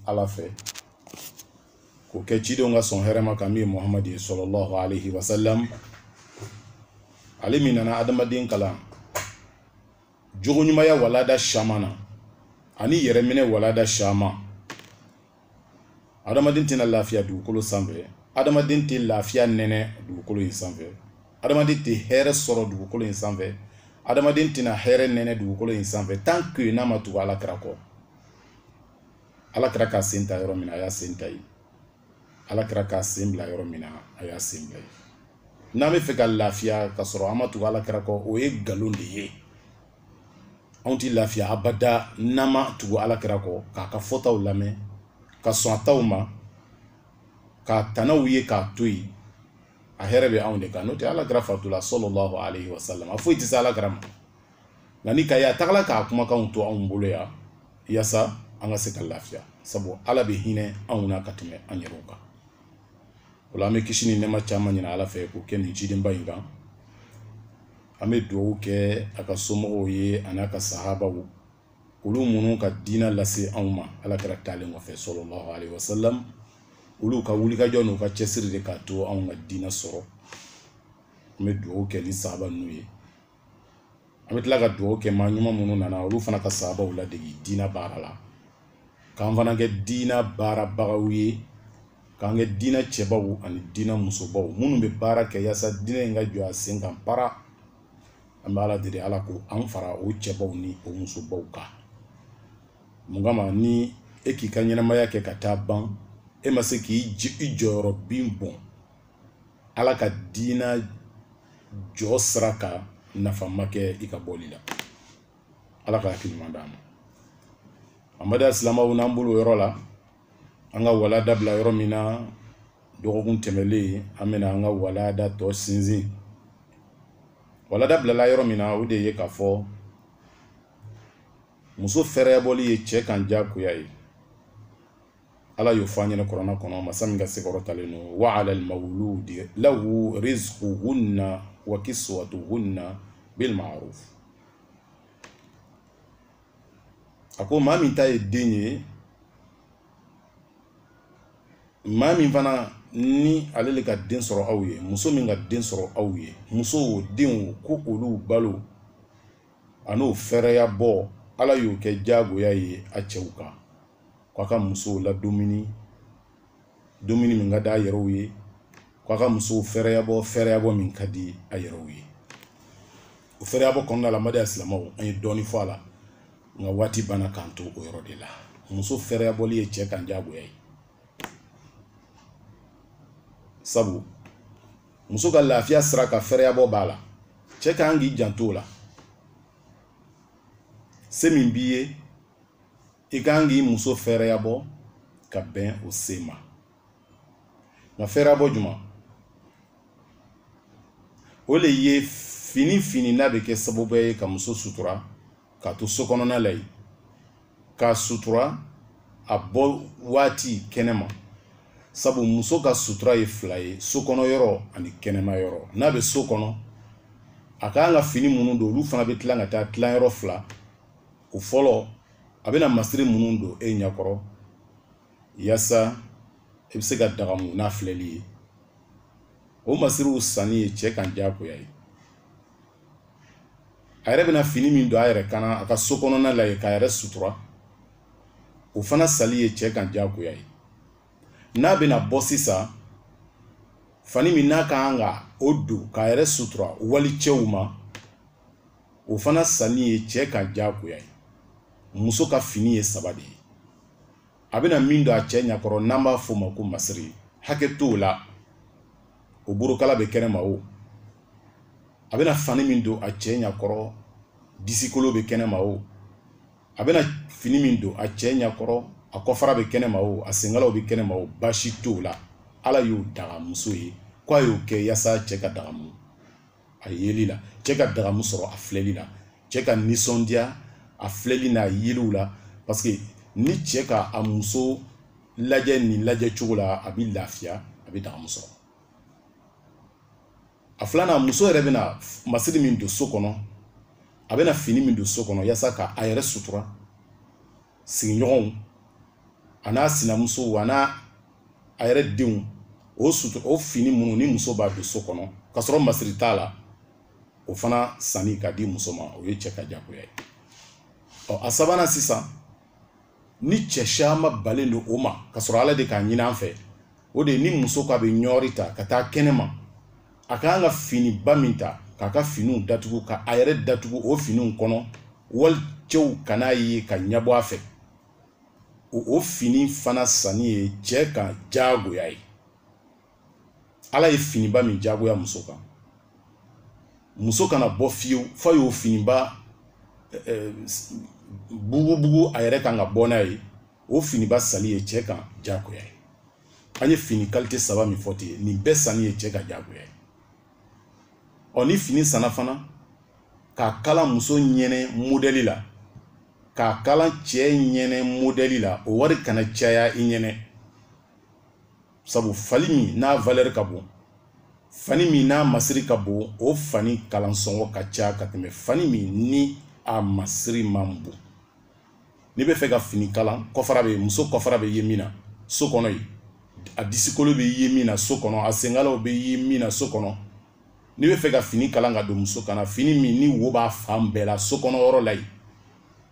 ala fɛ k'o kɛ cidenw ka sɔn hɛrɛma kan min ye muhamadi ye sɔlɔlɔhu alayhi wa sallam ale min nana adamaden kalan jogoɲumaya walada caman na ani yɛrɛminɛ walada caman adamaden tɛna lafiya dugukolo sanfɛ adamaden tɛ lafiya nɛnɛ dugukolo in sanfɛ adamaden tɛ hɛrɛ sɔrɔ dugukolo in sanfɛ adamaden tɛna hɛrɛ nɛnɛ dugukolo in sanfɛ tant que n'a ma tugu ala kira kɔ ala kira k'a sen ta yɔrɔ min na a y'a sen ta yen ala kira k'a sen bila yɔrɔ min na a y'a sen bila yen n'an bɛ fɛ ka lafiya ka sɔrɔ an ma tugu ala kira kɔ o ye nkalon de ye anw tɛ lafiya abada n'an ma tugu ala kira kɔ k'a ka fɔtaw lamɛn ka sɔn a taw ma k'a tanaw ye k'a to yen a hɛrɛ bɛ anw de kan n'o tɛ ala kira fatula sɔlɔlɔhu alayhi wa sallam a foyi tɛ se ala kira ma nka n'i k'a ye a tagala k'a kumakanw to anw bolo yan yasa an ka se ka lafiya sabu ala bɛ hinɛ anw na ka tɛmɛ an yɛrɛw kan o la an bɛ kisi ni nɛma caman ɲini ala fɛ k'o kɛ nin cidenba in kan an bɛ dugawu kɛ a ka somɔgɔw ye an'a ka sahabaw olu minnu ka diinɛ lase anw ma ala kira taalen kɔfɛ sɔlɔlɔhu alayhi wa sallam olu ka wulikajɔ n'u ka cɛsiri de k'a to anw ka diinɛ sɔrɔ an bɛ dugawu kɛ ni sahaba ninnu ye an bɛ tila ka dugawu kɛ maa ɲuman minnu nana olu fana ka sahabaw ladege diinɛ baara la k'an fana kɛ diinɛ baarabagaw ye k'an kɛ diinɛ cɛbaw ani diinɛ musobaw minnu bɛ baara kɛ yaasa diinɛ in ka jɔ a sen kan para an bɛ ala deli ala k'an fara o cɛbaw ni o musobaw kan mun kama ni e k'i ka ɲɛnamaya kɛ ka taa ban e ma se k'i i jɔyɔrɔ bin bɔn ala ka diina jɔ sira kan nafa ma kɛ i ka bɔli la ala ka hakili ɲuman d'an ma amma ba'du silamaw n'an bolo yɔrɔ la an ka walada bila yɔrɔ min na dɔgɔkun tɛmɛlen an bɛna an ka walada tɔ sinsin walada bilala yɔrɔ min na o de ye k'a fɔ muso fɛɛrɛbɔli ye cɛ kan diyagoya ye ala y'o fɔ an ɲɛna kurana kɔnɔ masa min ka se kɔrɔtalen don wa alal mawuludi lahu rizquhunna wa kiswatuhunna bil ma'ruf a ko maa min ta ye den ye maa min fana ni ale le ka den sɔrɔ aw ye muso min ka den sɔrɔ aw ye muso o den o ko olu balo an'o fɛɛrɛyabɔ ala y'o kɛ diyagoya ye a cɛw kan k'a ka musow ladumuni dumuni min ka di a yɛrɛw ye k'a ka musow fɛɛrɛyabɔ fɛɛrɛyabɔ min ka di a yɛrɛw ye o fɛɛrɛyabɔ kɔnɔna la n baden silamɛw an ye dɔɔni fɔ a la nka waati banna k'an to o yɔrɔ de la muso fɛɛrɛyabɔli ye cɛ kan diyagoya ye sabu muso ka lafiya sira ka fɛɛrɛyabɔ b'a la cɛ ka kan k'i janto o la se min b'i ye i ka kan k'i muso fɛɛrɛyabɔ ka bɛn o se ma nka fɛɛrɛyabɔ juman o le ye fini fini n'a bɛ kɛ sababuya ye ka muso sutura k'a to so kɔnɔna la yen k'a sutura a bɔ waati kɛnɛma sabu muso ka sutura ye fila ye so kɔnɔ yɔrɔ ani kɛnɛma yɔrɔ n'a bɛ so kɔnɔ a ka kan ka fini minnu don olu fana bɛ tila ka taa tilan yɔrɔ fila o fɔlɔ a bɛna masiri minnu don e ɲɛkɔrɔ yasa i bɛ se ka dagamu n'a filɛli ye o masiriw sanni ye cɛ kan diyagoya ye a yɛrɛ bɛna fini min don a yɛrɛ kan na a ka so kɔnɔna la yen k'a yɛrɛ sutura o fana sanni ye cɛ kan diyagoya ye n'a bɛna bɔ sisan fani min n'a ka kan ka o don k'a yɛrɛ sutura walicɛw ma o fana sanni ye cɛ kan diyagoya ye muso ka fini ye saba de ye a bɛna min don a cɛ ɲɛkɔrɔ n'an b'a f'o ma ko masiri hakɛ t'o la o borokala bɛ kɛnɛma o a bɛna fani min don a cɛ ɲakɔrɔ disikolo bɛ kɛnɛma o a bɛna fini min don a cɛ ɲakɔrɔ a kɔfara bɛ kɛnɛma o a senkalaw bɛ kɛnɛma o baasi t'o la ala y'o daga muso ye k'a y'o kɛ yasa cɛ ka dagamu a yeli la cɛ ka dagamu sɔrɔ a filɛli la cɛ ka nisɔndiya a filɛli n'a yeliw la parce que ni cɛ ka a muso lajɛ nin lajɛ cogo la a bɛ lafiya a bɛ dagamu sɔrɔ a filanan muso yɛrɛ bɛna masiri min don so kɔnɔ a bɛna fini min don so kɔnɔ yasa ka a yɛrɛ sutura sigiɲɔgɔnw an'a sinamusow an'a yɛrɛ denw o sutu o fini minnu ni muso b'a don so kɔnɔ ka sɔrɔ masiri t'a la o fana sanni ka di muso ma o ye cɛ kan jagoya ye ɔ a sabanan sisan ni cɛ caman banlen don o ma ka sɔrɔ ala de k'a ɲini an fɛ o de ye ni muso k'a bɛ ɲɔri ta ka taa kɛnɛma a kan ka finiba min ta k'a ka finiw datugu ka a yɛrɛ datugu o finiw kɔnɔ walicɛw kan'a ye ka ɲɛbɔ a fɛ o fini fana sanni ye cɛ kan diyagoya ye ala ye finiba min diyagoya muso kan muso kana bɔ fiyewu f'a y'o finiba bugubugu a yɛrɛ kan ka bɔ n'a ye o finiba sanni ye cɛ kan diyagoya ye an ye fini kalite saba min fɔ ten nin bɛɛ sanni ye cɛ kan diyagoya ye ɔ ni fini sanna fana k'a kala muso ɲɛnɛ modɛli la k'a kala cɛ ɲɛnɛ modɛli la o wari kana caya i ɲɛnɛ sabu fani min n'a valɛri ka bon fani min n'a masiri ka bon o fani kalansɔngɔ ka ca ka tɛmɛ fani min ni a masiri man bon n'i bɛ fɛ ka fini kalan kɔfara bɛ muso kɔfara bɛ ye min na so kɔnɔ yen a disikolo bɛ ye min na so kɔnɔ a senkalaw bɛ ye min na so kɔnɔ n'i bɛ fɛ ka fini kalan ka don muso kan na fini min ni wo b'a fan bɛɛ la so kɔnɔ yɔrɔ la yen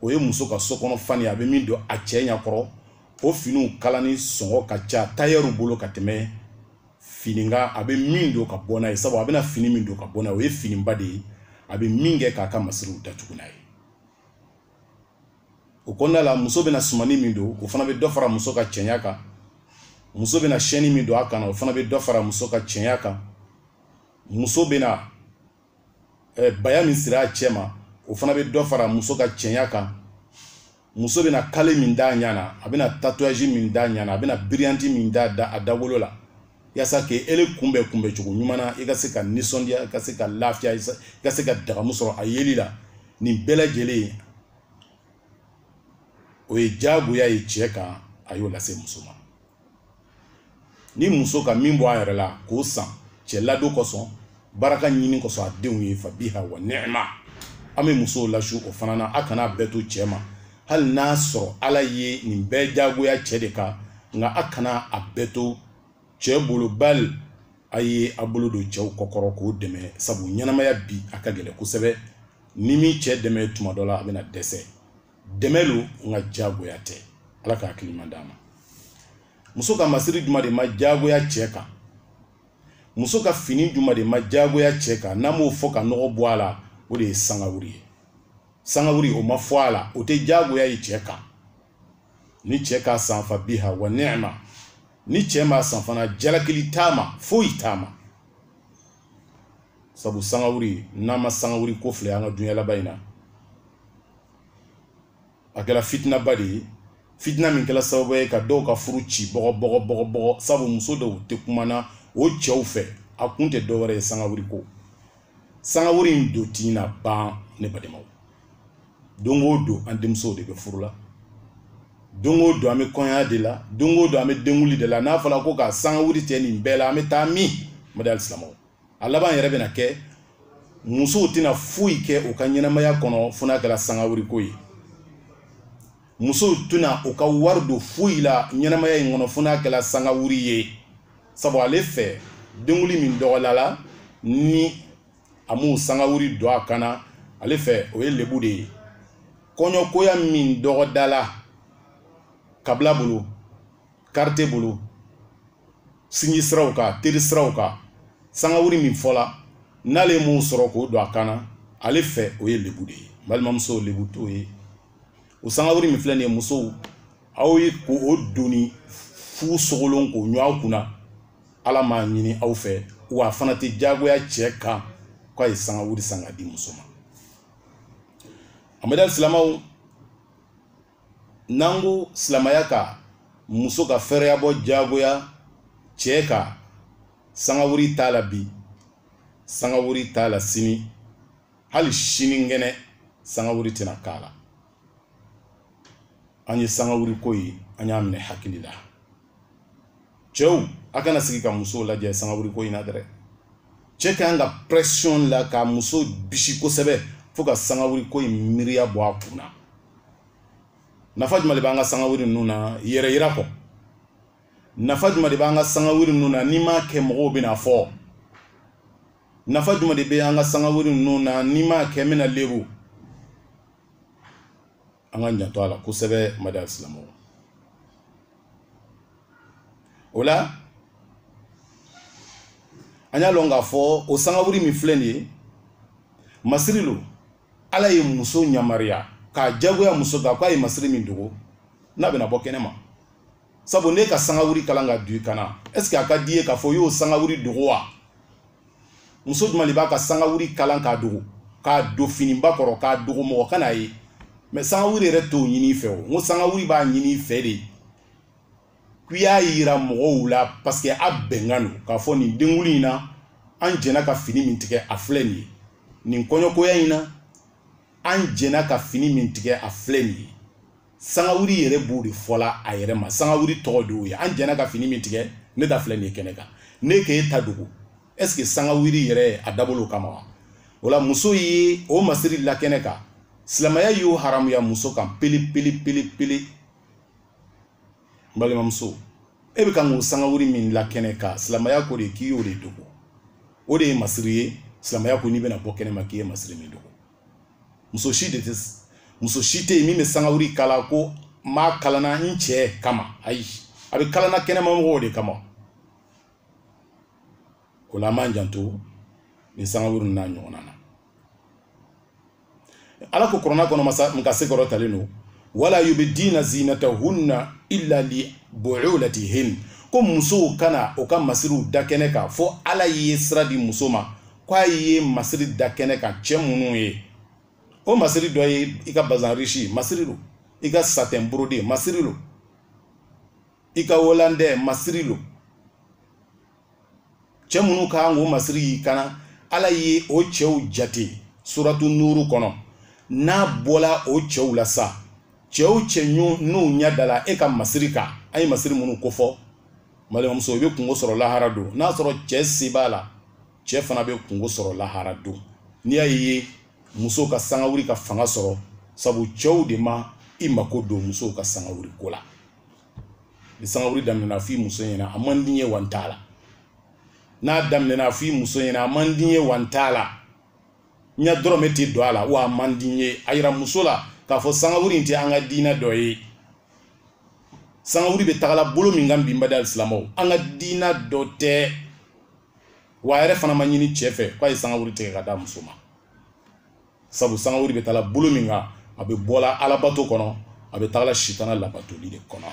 o ye muso ka so kɔnɔ fani a bɛ min don a cɛ ɲɛ kɔrɔ o finiw kalanni sɔngɔ ka ca tayɛriw bolo ka tɛmɛ fini kan a bɛ min don ka bɔ n'a ye sabu a bɛna fini min don ka bɔ n'a ye o ye finiba de ye a bɛ min kɛ k'a ka masiriw datugu n'a ye o kɔnɔna la muso bɛna sumani min don o fana bɛ dɔ fara muso ka cɛɲa kan muso bɛna sɛni min don a kan o fana bɛ dɔ fara muso ka cɛɲa kan muso bɛna eh, baya min siri a cɛ ma o fana bɛ dɔ fara muso ka cɛɲa kan muso bɛna kale min d'a ɲɛ na a bɛna tatouage min d'a ɲɛ na a bɛna biriyanti min d'a dawolo la yasa k'e ele kunbɛn kunbɛn cogo ɲuman na i ka se ka nisɔndiya i ka se ka lafiya i ka se ka dagamu sɔrɔ a yeli la nin bɛɛ lajɛlen o ye diyagoya ye cɛ kan a y'o lase muso ma ni muso ka min bɔ a yɛrɛ la k'o san cɛ ladon kosɔn baraka ɲini kosɔn a denw ye fa biha wa nɛɛma an bɛ musow lasu o fana na a kana a bɛɛ to cɛ ma hali n'a sɔrɔ ala ye nin bɛɛ jagoya cɛ de kan nka a kana a bɛɛ to cɛ bolo bali a ye a bolo don cɛw kɔkɔrɔ k'o dɛmɛ sabu ɲɛnamaya bi a ka gɛlɛn kosɛbɛ n'i m'i cɛ dɛmɛ tuma dɔ la a bɛna dɛsɛ dɛmɛ don nka diyagoya tɛ ala ka hakili ɲuman d'an ma muso ka masiri jumɛn de ma diyagoya cɛ kan muso ka fini jumɛn de ma diyagoya cɛ kan n'an b'o fɔ ka nɔgɔ bɔ a la o de ye sangawuri ye sangawuri o ma fɔ a la o tɛ diyagoya ye cɛ kan ni cɛ k'a san fa biha wa nɛɛma ni cɛ m'a san fana jalakili t'a ma foyi t'a ma sabu sangawuri n'an ma sangawuri ko filɛ an ka dunya laban in na a kɛra fitinaba de ye fitina min kɛra sababu ye ka dɔw ka furu ci bɔgɔ bɔgɔ bɔgɔ bɔgɔ sabu muso dɔw tɛ kumana o cɛw fɛ a kun tɛ dɔwɛrɛ ye sangawuri ko sangawuri in dun tɛna ban ne badenmaw don o don an denmusow de bɛ furu la don o don an bɛ kɔɲɔya de la don o don an bɛ denkunli de la n'a fɔla ko ka sangawuri tigɛ nin bɛɛ la an bɛ taa min ummatal islam a laban yɛrɛ bɛna kɛ musow tɛna foyi kɛ u ka ɲɛnamaya kɔnɔ fo n'a kɛla sangawuri ko ye musow tɛna u ka wari don foyi la ɲɛnamaya in kɔnɔ fo n'a kɛla sangawuri ye sabu ale fɛ denkunli min dɔgɔdala ni a m'o sangawuri don a kan na ale fɛ o ye lebu de ye kɔɲɔkoya min dɔgɔdala kabila bolo karite bolo sinji siraw kan teri siraw kan sangawuri min fɔla n'ale m'o sɔrɔ k'o don a kan na ale fɛ o ye lebu de ye balimamuso lebu t'o ye o sangawuri min filɛ nin ye musow aw ye k'o doni fu sogolon k'o ɲun aw kunna ala m'a ɲini aw fɛ wa a fana tɛ jagoya cɛ kan k'a ye sangawuri san k'a di muso ma ummatal islam n'an ko silamaya ka muso ka fɛrɛya bɔ jagoya cɛ kan sangawuri t'a la bi sangawuri t'a la sini hali sinikɛnɛ sangawuri tɛna k'a la an ye sangawuri ko in an y'a minɛ hakili la cɛw a kana sigi ka musow lajɛ sangawuri ko in na dɛrɛ cɛ ka kan ka pression la ka muso bisi kosɛbɛ fo ka sangawuri ko in miiriya bɔ a kun na nafa jumɛn de b'an ka sangawuri ninnu na yɛrɛ yira kɔ nafa jumɛn de b'an ka sangawuri ninnu na n'i m'a kɛ mɔgɔw bɛn'a fɔ nafa jumɛn de bɛ an ka sangawuri ninnu na n'i m'a kɛ n bɛna lebu an k'an janto a la kosɛbɛ ummatal islam o la an y'a lɔn k'a fɔ o sangaburi min filɛ nin ye masiri lo ala ye muso ɲamariya k'a jagoya muso kan k'a ye masiri min dogo n'a bɛna bɔ kɛnɛ ma sabu n'e ka sangawuri kalan k'a don i kan na est ce que a ka d'i ye k'a fɔ i y'o sangawuri dogo wa muso jumɛn de b'a ka sangawuri kalan k'a dogo k'a don finiba kɔrɔ k'a dogo mɔgɔ kan'a ye mɛ sangawuri yɛrɛ t'o ɲin'i fɛ o n ko sangawuri b'a ɲin'i fɛ de k'i y'a yira mɔgɔw la paseke a bɛnkan don k'a fɔ nin denkunli in na an jɛna ka fini min tigɛ a filɛ nin ye nin kɔɲɔkoya in na an jɛna ka fini min tigɛ a filɛ nin ye sangawuri yɛrɛ b'o de fɔla a yɛrɛ ma sangawuri tɔgɔ de y'o ye an jɛna ka fini min tigɛ ne ta filɛ nin ye kɛnɛ kan n'e k'e ta dogo est ce que sangawuri yɛrɛ dabɔl'o kama wa o la muso ye o masiri la kɛnɛ kan silamɛya y'o haramuya muso kan pele pele pele pele n balimamuso e bɛ kan k'o sangawuri min la kɛnɛ kan silamɛya ko de k'i y'o de dogo o de ye masiri ye silamɛya ko n'i bɛna bɔ kɛnɛ ma k'i ye masiri min dogo muso si de tɛ muso si tɛ yen min bɛ sangawuri kala ko n b'a kalanna n cɛ kama ayi a bɛ kalanna kɛnɛma mɔgɔw de kama o la an b'an janto nin sangawuri n'a ɲɔgɔnna na ala ko kurana kɔnɔ masa in ka se kɔrɔtalen don wala yubdiina zinatahunna illa li bu'ulatihin ko musow kana o ka masiriw da kɛnɛ kan fo ala ye sira di muso ma ko a ye masiri da kɛnɛ kan cɛ minnu ye o masiri dɔ ye i ka bazan risi masiri lo i ka satɛn burode masiri lo i ka wolandɛ masiri lo cɛ minnu ka kan k'o masiri y'i kan na ala ye o cɛw jate suratu nuuru kɔnɔ n'a bɔla o cɛw la sa cɛ o cɛ n'u ɲɛ dala e ka masiri kan an ye masiri minnu kofɔ balimamuso i bɛ kunko sɔrɔ lahara don n'a sɔrɔ cɛ se b'a la cɛ fana bɛ kunko sɔrɔ lahara don n'i y'a ye muso ka sangawuli ka fanga sɔrɔ sabu cɛw de ma i mako don musow ka sangawuli ko la ni sangawuli daminɛna f'i muso ɲɛna a man di n ye wa n t'a la n'a daminɛna f'i muso ɲɛna a man di n ye wa n t'a la n ka dɔrɔmɛ tɛ don a la wa a man di n ye a yira muso la k'a fɔ sangawuli in tɛ an ka diina dɔ ye sangawuli bɛ tagala bolo min kan bi n baden alisilamɛw an ka diina dɔ tɛ wa a yɛrɛ fana ma ɲini cɛ fɛ k'a ye sangawuli tigɛ ka d'a muso ma sabu sangawuli bɛ taala bolo min kan a bɛ bɔla alabato kɔnɔ a bɛ tagala sitana labatoli de kɔnɔ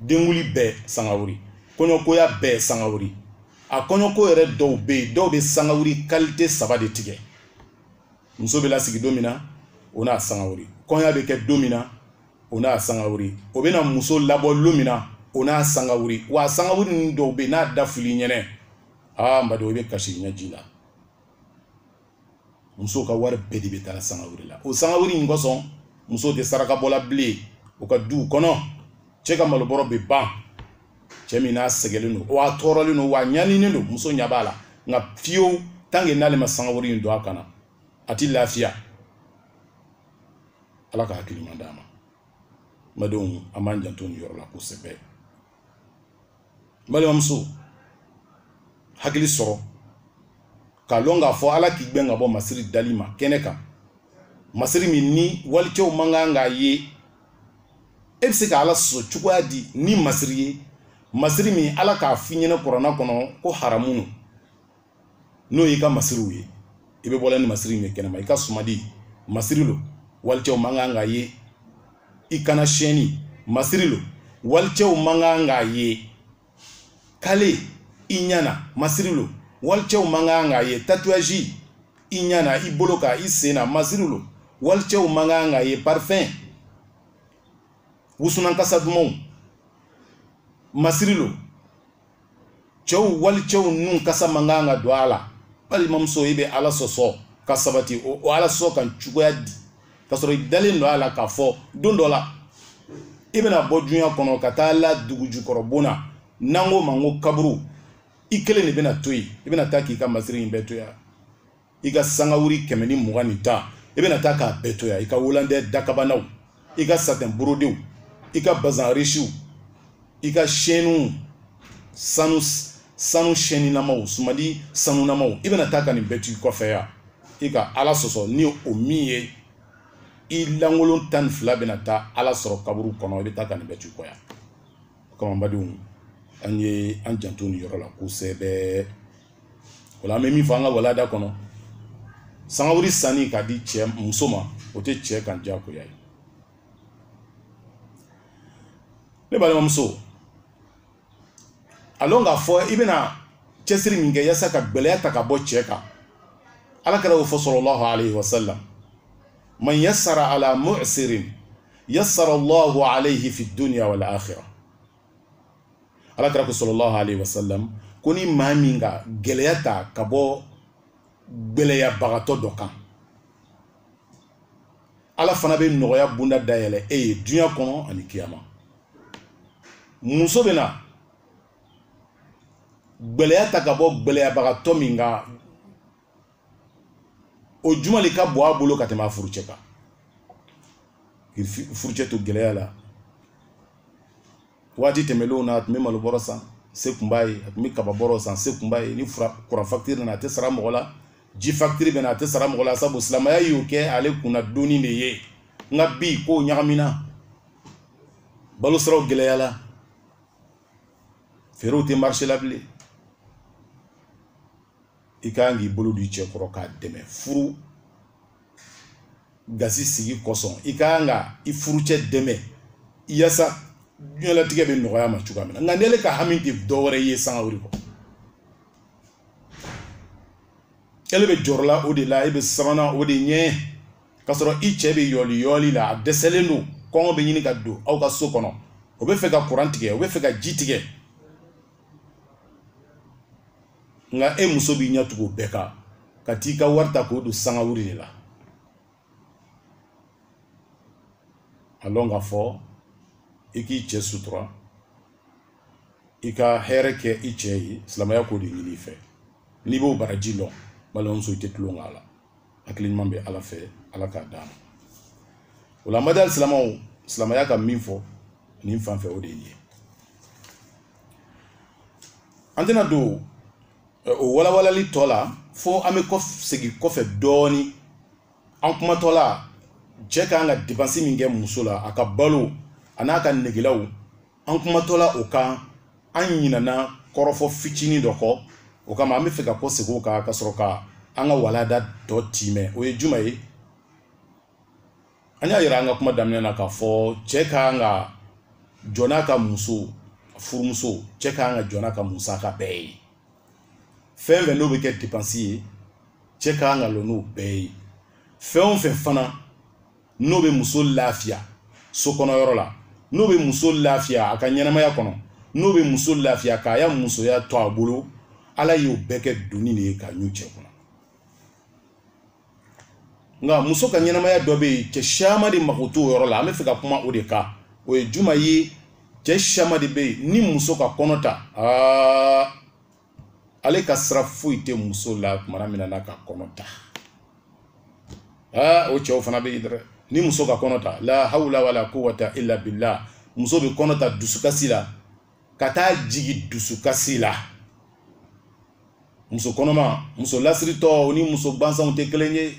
denkunli bɛɛ sangawuli kɔɲɔkoya bɛɛ sangawuli a kɔɲɔko yɛrɛ dɔw bɛ yen dɔw bɛ sangawuli kalite saba de tigɛ muso bɛ lasigi don min na o n'a sangawuli kɔɲɔ bɛ kɛ don min na o n'a sangawuri o bɛna muso labɔ lon min na o n'a sangawuri wa sangawuri ninnu dɔw bɛ yen n'a da fɔl'i ɲɛna aa n badenw i bɛ kasi ɲɛji la musow ka wari bɛɛ de bɛ taa sangawuri la o sangawuri in kosɔn musow tɛ saraka bɔla bilen u ka duw kɔnɔ cɛ ka malobɔrɔ bɛ ban cɛ min n'a sɛgɛnlen don wa a tɔɔrɔlen don wa a ɲaninen don muso ɲɛ b'a la nka fiyewu tanke n'ale ma sangawuri in don a kan na a tɛ lafiya ala ka hakili ɲuman d'an ma n badenw an b'an janto nin yɔrɔ la kosɛbɛ balimamuso hakili sɔrɔ k'a lɔn k'a fɔ ala k'i gbɛn ka bɔ masiri dali ma kɛnɛ kan masiri min ni walicɛw man kan k'a ye e bɛ se ka ala sɔsɔ cogoya di ni masiri ye masiri min ala k'a f'i ɲɛna kurana kɔnɔ ko haramu no n'o y'i ka masiriw ye i bɛ bɔla ni masiriw ye kɛnɛma i ka sumadi masiri lo walicɛw man kan k'a ye i kan na sɛni masiri lo walicɛw man kan k'a ye kale i ɲa na masiri lo walicɛw man kan k'a ye tatouage i ɲa na i bolo kan i sen na masiri lo walicɛw man kan k'a ye parfɛn wusunan kasa dumanw masiri lo cɛw walicɛw nun kasa man kan ka don a la balimamuso i bɛ ala sɔsɔ ka sabati o o ala sɔsɔ kan cogoya di ka sɔrɔ i dalen lo a la k'a fɔ don dɔ la i bɛna bɔ dunya kɔnɔ ka taa la dugujukɔrɔbon na n'an k'o ma ko kaburu i kelen de bɛna to yen i bɛna taa k'i ka masiri in bɛɛ to yan i ka sangawuri kɛmɛ ni mugan ni tan i bɛna taa k'a bɛɛ to yan i ka wolandɛ dakabanaw i ka satɛn borodew i ka bazan risiw i ka sɛniw sanu sanu sɛninamaw sumadi sanunamaw i bɛna taa ka nin bɛɛ to i kɔfɛ yan i ka ala sɔsɔ ni o min ye i lankolon tan ni fila bɛna taa ala sɔrɔ kaburu kɔnɔ i bɛ taa ka nin bɛɛ to i kɔ yan kɔnɔbadenw an ye an janto nin yɔrɔ la kosɛbɛ o la an bɛ min fɔ an ka walada kɔnɔ sangawuli sanni ka di cɛ muso ma o tɛ cɛ kan diyagoya ye ne balimamuso a lɔn k'a fɔ i bɛna cɛsiri min kɛ yasa ka gɛlɛya ta ka bɔ cɛ kan ala kira k'o fɔ sallallahu alayhi wa sallam man yasara ala mu'sirin yasara allahu alayhi fi dunya wal akhirah ala kira ko sallallahu alayhi wa sallam ko ni maa min ka gɛlɛya ta ka bɔ gɛlɛyabagatɔ dɔ kan ala fana bɛ nɔgɔya bonda dayɛlɛ e ye duɲa kɔnɔ ani kiyama muso bɛna gɛlɛya ta ka bɔ gɛlɛyabagatɔ min kan o juman de ka bon a bolo ka tɛmɛ a furucɛ kan k'i furucɛ to gɛlɛya la waati tɛmɛlenw na a tun bɛ malo bɔrɔ san se tun b'a ye a tun bɛ kaba bɔrɔ san se tun b'a ye ni kuran fakitiri nana a tɛ sara mɔgɔ la ji fakitiri bɛ na a tɛ sara mɔgɔ la sabu silamɛya y'o kɛ ale kunna donni de ye nka bi kow ɲagamina balosiraw gɛlɛyala feerew tɛ marise la bilen i ka kan k'i bolo d'i cɛ kɔrɔ k'a dɛmɛ furu gasi sigi kosɔn i ka kan ka i furucɛ dɛmɛ yasa diɲɛlatigɛ bɛ nɔgɔya a ma cogoya min na nka n'ele ka hami tɛ dɔ wɛrɛ ye sanga o de kɔ ele bɛ jɔrɔla o de la e bɛ sabanan o de ɲɛ k'a sɔrɔ i cɛ bɛ yɔli yɔli la a dɛsɛlen don kɔngɔ bɛ ɲini ka don aw ka so kɔnɔ o bɛ fɛ ka kuran tigɛ o bɛ fɛ ka ji tigɛ nka e muso b'i ɲɛ tugu bɛɛ kan ka t'i ka wari ta k'o don sangawuli de la a lɔn k'a fɔ i k'i cɛ sutura i ka hɛrɛ kɛ i cɛ ye silamɛya k'o de ɲini i fɛ n'i b'o baraji lɔn balimamuso i tɛ tulon k'a la hakili ɲuman bɛ ala fɛ ala k'a d'an ma o la baden silamɛw silamɛya ka min fɔ nin fan fɛ o de ye an tɛna don o walawalali tɔ la fo an bɛ kɔ segin kɔfɛ dɔɔnin an kumatɔ la cɛ ka kan ka depansi min kɛ muso la a ka balo a n'a ka negelaw an kumatɔ la o kan an ɲinana kɔrɔfɔ fitinin dɔ kɔ o kama an bɛ fɛ ka kɔ segin o kan ka sɔrɔ ka an ka walanda tɔ tiimɛ o ye juman ye an y'a yira an ka kuma daminɛ na k'a fɔ cɛ ka kan ka jɔ n'a ka muso furumuso cɛ ka kan ka jɔ n'a ka musaka bɛɛ ye fɛn fɛn n'o bɛ kɛ depansi ye cɛ ka kan ka lɔ n'o bɛɛ ye fɛn o fɛn fana n'o bɛ muso lafiya so kɔnɔ yɔrɔ la n'o bɛ muso lafiya a ka ɲɛnamaya kɔnɔ n'o bɛ muso lafiya k'a ya musoya to a bolo ala y'o bɛɛ kɛ doni de ye k'a ɲun cɛ kunna nka muso ka ɲɛnamaya dɔ bɛ yen cɛ siyaman de mako t'o yɔrɔ la an bɛ fɛ ka kuma o de kan o ye juman ye cɛ siyaman de bɛ yen ni muso ka kɔnɔ ta aa ale ka sira foyi tɛ muso la tuma min n'a ka kɔnɔ ta aa o cɛw fana bɛ yen dɛ ni muso ka kɔnɔ ta la hawla wala quwwata illa billah muso bɛ kɔnɔ ta dusukasi la ka taa jigi dusukasi la muso kɔnɔma muso lasiritɔ o ni muso gbansanw tɛ kelen ye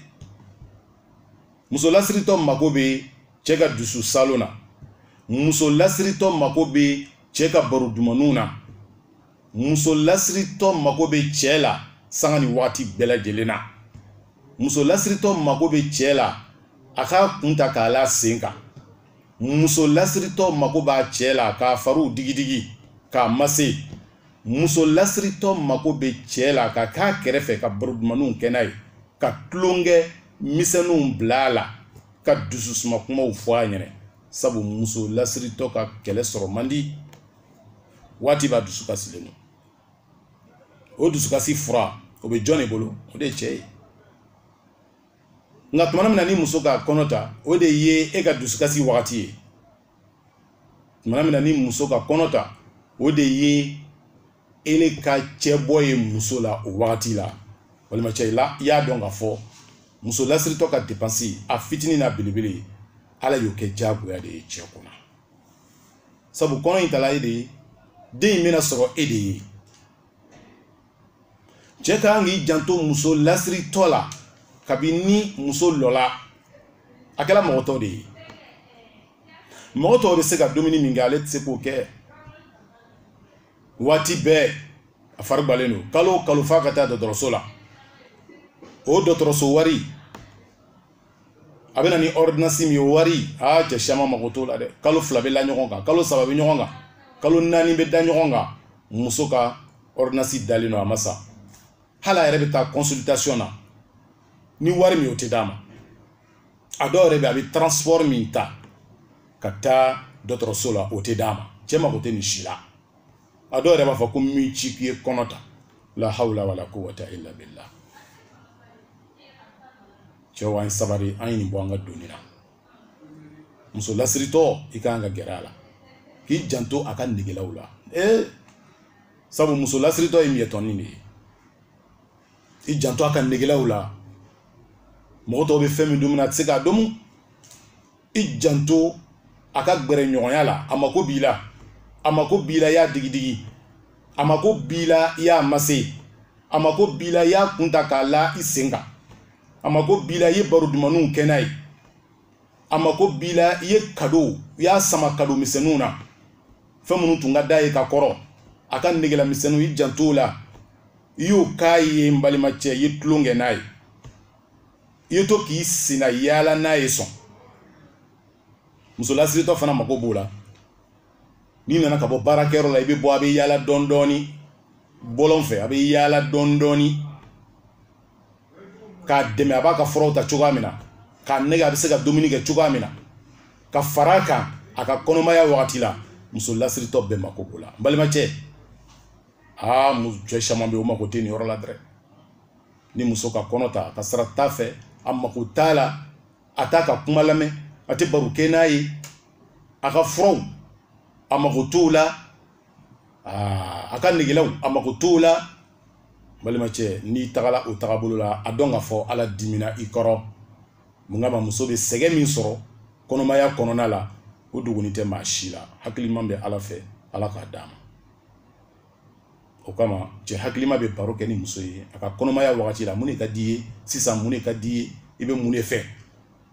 muso lasiritɔ mako bɛ cɛ ka dusu saalon na muso lasiritɔ mako bɛ cɛ ka baro dumanw na muso lasiritɔ mako bɛ cɛ la sanga ni waati bɛɛ lajɛlen na muso lasiritɔ mako bɛ cɛ la a k'a kun ta k'a la sen kan muso lasiritɔ mako b'a cɛ la k'a fariw digidigi k'a mase muso lasiritɔ mako bɛ cɛ la ka k'a kɛrɛfɛ ka baro dumanninw kɛ n'a ye ka tulonkɛ misɛnninw bila a la ka dususuma kumaw fɔ a ɲɛna sabu muso lasiritɔ ka kɛlɛ sɔrɔ man di waati bɛɛ a dusukasilen don o dusukasi fura o bɛ jɔn de bolo o de ye cɛ ye nka tuma min na ni muso ka kɔnɔ ta o de ye e ka dusukasi wagati ye tuma min na ni muso ka kɔnɔ ta o de ye ele ka cɛ bɔ ye muso la o wagati la balimacɛ yala i y'a dɔn k'a fɔ muso lasiritɔ ka depansi a fitinin n'a belebele ala y'o kɛ diyagoya de ye cɛ kunna sabu kɔnɔ in tala e de ye den in bɛna sɔrɔ e de ye cɛ ka kan k'i janto muso lasiritɔ la kabini ni muso lɔla a kɛra mɔgɔ tɔw de ye mɔgɔ tɔw bɛ se ka dumuni min kɛ ale tɛ se k'o kɛ waati bɛɛ a fari gbalen don kalo o kalo f'a ka taa dɔgɔtɔrɔso la o dɔgɔtɔrɔso wari a bɛ na ni ordonnance min ye wari aa cɛ siyaman mago t'o la dɛ kalo fila bɛ la ɲɔgɔn kan kalo saba bɛ ɲɔgɔn kan kalo naani bɛ da ɲɔgɔn kan muso ka ordonnance dalen don a ma san hali a yɛrɛ bɛ taa consultation na ni wari min o tɛ d'a ma a dɔw yɛrɛ bɛ a bɛ transport min ta ka taa dɔgɔtɔrɔso la o tɛ d'a ma cɛ mago tɛ nin si la a dɔw yɛrɛ b'a fɔ ko n m'i ci k'i ye kɔnɔ ta la hawla wala quwwata illa billah cɛw an ye sabari an ye nin bɔ an ka doni na muso lasiritɔ i ka kan ka gɛrɛ a la k'i janto a ka negelaw la ee sabu muso lasiritɔ ye miyɛtɔni de ye i janto a ka negelaw la mɔgɔ tɔw bɛ fɛn min domu na a tɛ se k'a domu i janto a ka gɛrɛɲɔgɔnya la a mako b'i la a mako b'i la i y'a digidigi a mako b'i la i y'a mase a mako b'i la i y'a kun ta k'a la i sen kan a mako b'i la i ye baro dumanniw kɛ n'a ye a mako b'i la i ye kado i y'a sama kado misɛnninw na fɛn minnu tun ka d'a ye ka kɔrɔ a ka negelamisɛnninw i janto o la i y'o k'a ye n balimacɛ i ye tulon kɛ n'a ye i ye to k'i sennayaala n'a ye sɔn muso lasiritɔ fana mago b'o la n'i nana ka bɔ baarakɛyɔrɔ la i bɛ bɔ a bɛ yaala dɔɔni dɔɔni bɔlɔn fɛ a bɛ yaala dɔɔni dɔɔni k'a dɛmɛ a b'a ka furaw ta cogoya min na k'a nɛgɛn a bɛ se ka dumuni kɛ cogoya min na ka fara a kan a ka kɔnɔmaya wagati la muso lasiritɔ bɛɛ mako b'o la n balimacɛ aa cɛ caman bɛ yen o mako tɛ nin yɔrɔ la dɛrɛ ni muso ka kɔnɔ ta ka sira t'a fɛ a mako t'a la a t'a ka kuma lamɛn a tɛ baro kɛ n'a ye a ka furaw a mako t'o la a ka negelaw a mako t'o la balimacɛ n'i tagala o tagabolo la a dɔn ka fɔ ala dimina i kɔrɔ mun kama muso bɛ sɛgɛn min sɔrɔ kɔnɔmaya kɔnɔna la o dogonin tɛ maa si la hakiliman bɛ ala fɛ ala k'a d'a ma o kama cɛ hakilima bɛ baro kɛ ni muso ye a ka kɔnɔmaya wagati la mun de ka d'i ye sisan mun de ka d'i ye i bɛ mun de fɛ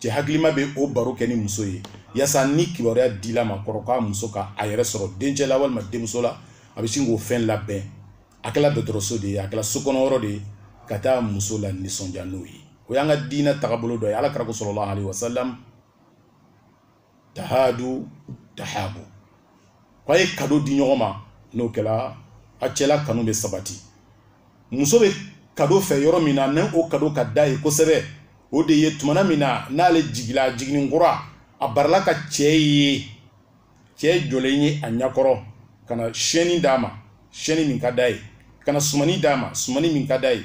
cɛ hakilima bɛ o baro kɛ ni muso ye yasa ni kibaruya dila a ma kɔrɔ k'a muso ka a yɛrɛ sɔrɔ dencɛ la walima denmuso la a bɛ sin k'o fɛn labɛn a kɛla dɔgɔtɔrɔso de ye a kɛla so kɔnɔ yɔrɔ de ye ka taa muso lanisɔndiya n'o ye o y'an ka diinɛ tagabolo dɔ ye ala kira ko sallallahu alayhi wa salam tahadu tahabu ko a ye kado di ɲɔgɔn ma n'o kɛra a cɛla kanu bɛ sabati muso bɛ kado fɛ yɔrɔ min na ni o kado ka d'a ye kosɛbɛ o de ye tumana min na n'ale jigila jiginni kura a barala ka cɛ ye cɛ jɔlen ye a ɲakɔrɔ ka na siyɛnni d'a ma siyɛnni min ka d'a ye ka na sumani d'a ma sumani min ka d'a ye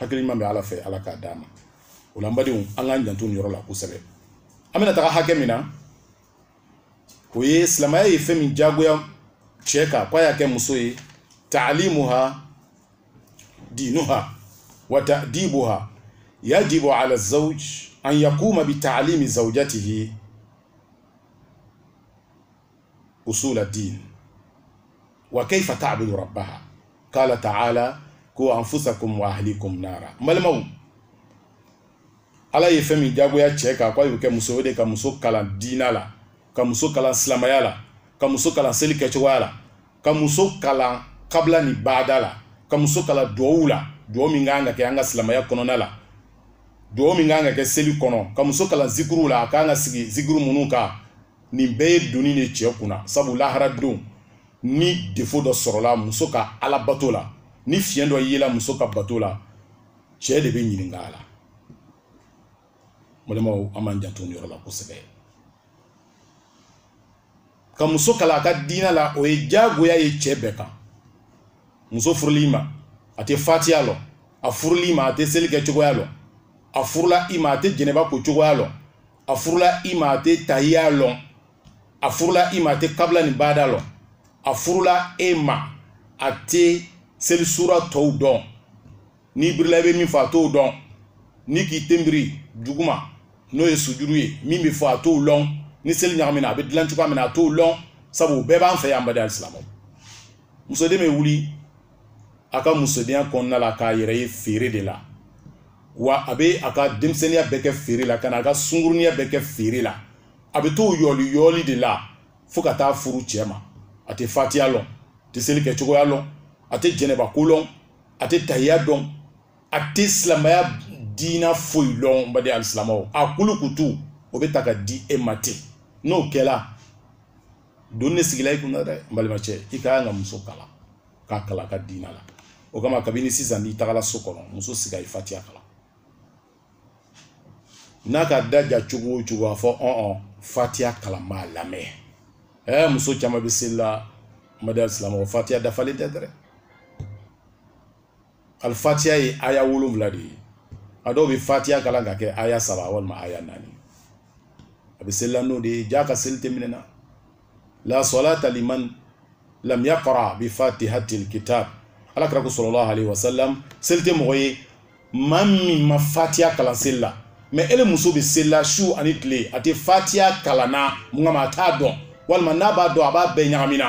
hakili ɲuman bɛ ala fɛ ala k'a d'an ma o la n badenw an k'an janto nin yɔrɔ la kosɛbɛ an bɛna taga hakɛ min na o ye silamɛya ye fɛn min jagoya cɛ kan k'a y'a kɛ muso ye taalimuha diinuha wa ta'dibuha yajibu ala zawj an yakuma bi taalimi zawjatihi usula din wa kayfa ta'budu rabbaha qala ta'ala ko anfusakum wa ahlikum nara n balimaw ala ye fɛn min jagoya cɛ kan ko a y'o kɛ muso o de ka muso kalan diina la ka muso kalan silamaya la ka muso kalan seli kɛcogoya la ka muso kalan kabila ni baada la ka muso kalan duwawu la duwawu min kan ka kɛ an ka silamaya kɔnɔna la duwawu min kan ka kɛ seli kɔnɔ ka muso kalan zikuru la a kan ka sigi zikuru minnu kan nin bɛɛ ye doni de cɛ kunna sabu lahara don ni defo dɔ sɔrɔla muso ka ala bato la ni fiɲɛ dɔ yela muso ka bato la cɛɛ de bɛ ɲininka a la balimaw an b'an janto nin yɔrɔ la kosɛbɛ ka muso kalan a ka diina la o ye jagoya ye cɛɛ bɛɛ kan muso furula i ma a tɛ fatiya lɔn a furula i ma a tɛ seli kɛ cogoya lɔn a furula i ma a tɛ jɛnɛba ko cogoya lɔn a furula i ma a tɛ tahiya lɔn a furula i ma a tɛ kabila ni baada lɔn a furula e ma a tɛ seli sura tɔw dɔn n'i birila i bɛ min fɔ a t'o dɔn ni k'i ten biri duguma n'o ye sujuru ye min bɛ fɔ a t'o lɔn ni seli ɲagamina a bɛ dilan cogoya min na a t'o lɔn sabu o bɛɛ b'an fɛ yan baden alisilamɛw musoden bɛ wuli a ka musodenya kɔnɔna la k'a yɛrɛ ye feere de la wa a bɛ a ka denmisɛnninya bɛɛ kɛ feere la ka na a ka sungurunya bɛɛ kɛ feere la a bɛ t'o yɔli yɔli de la fo ka taa furu cɛ ma a tɛ fatiya lɔn a tɛ seli kɛ cogoya lɔn a tɛ jɛnɛba ko lɔn a tɛ tahiya dɔn a tɛ silamɛya diina foyi lɔn baden alisilamɛw a kulukutu o bɛ ta ka di e ma ten n'o kɛra doni sigila i kunna dɛ n balimacɛ i ka kan ka muso kalan k'a kalan a ka diina la o kama kabini sisan n'i tagala so kɔnɔ muso sigi a ye fatiya kalan n'a k'a da ja cogo o cogo a fɔ ɔn fatiya kalan n b'a lamɛn ɛɛ muso caman bɛ seli la baden silamɛ fatiya dafalen tɛ dɛ al fatiya ye aya wolonwula de ye a dɔw bɛ fatiya kalan ka kɛ aya saba walima aya naani a bɛ selila n'o de ye jaa a ka seli tɛ minɛ na la salata liman lam yaqra bi fatihatil kitab ala kira ko sallallahu alaihi wasallam seli tɛ mɔgɔ ye maa min ma fatiya kalan seli la mais ele muso bɛ seli la su ani tile a tɛ fatiya kalan na mun kama a t'a dɔn walima n'a b'a dɔn a b'a bɛɛ ɲagamina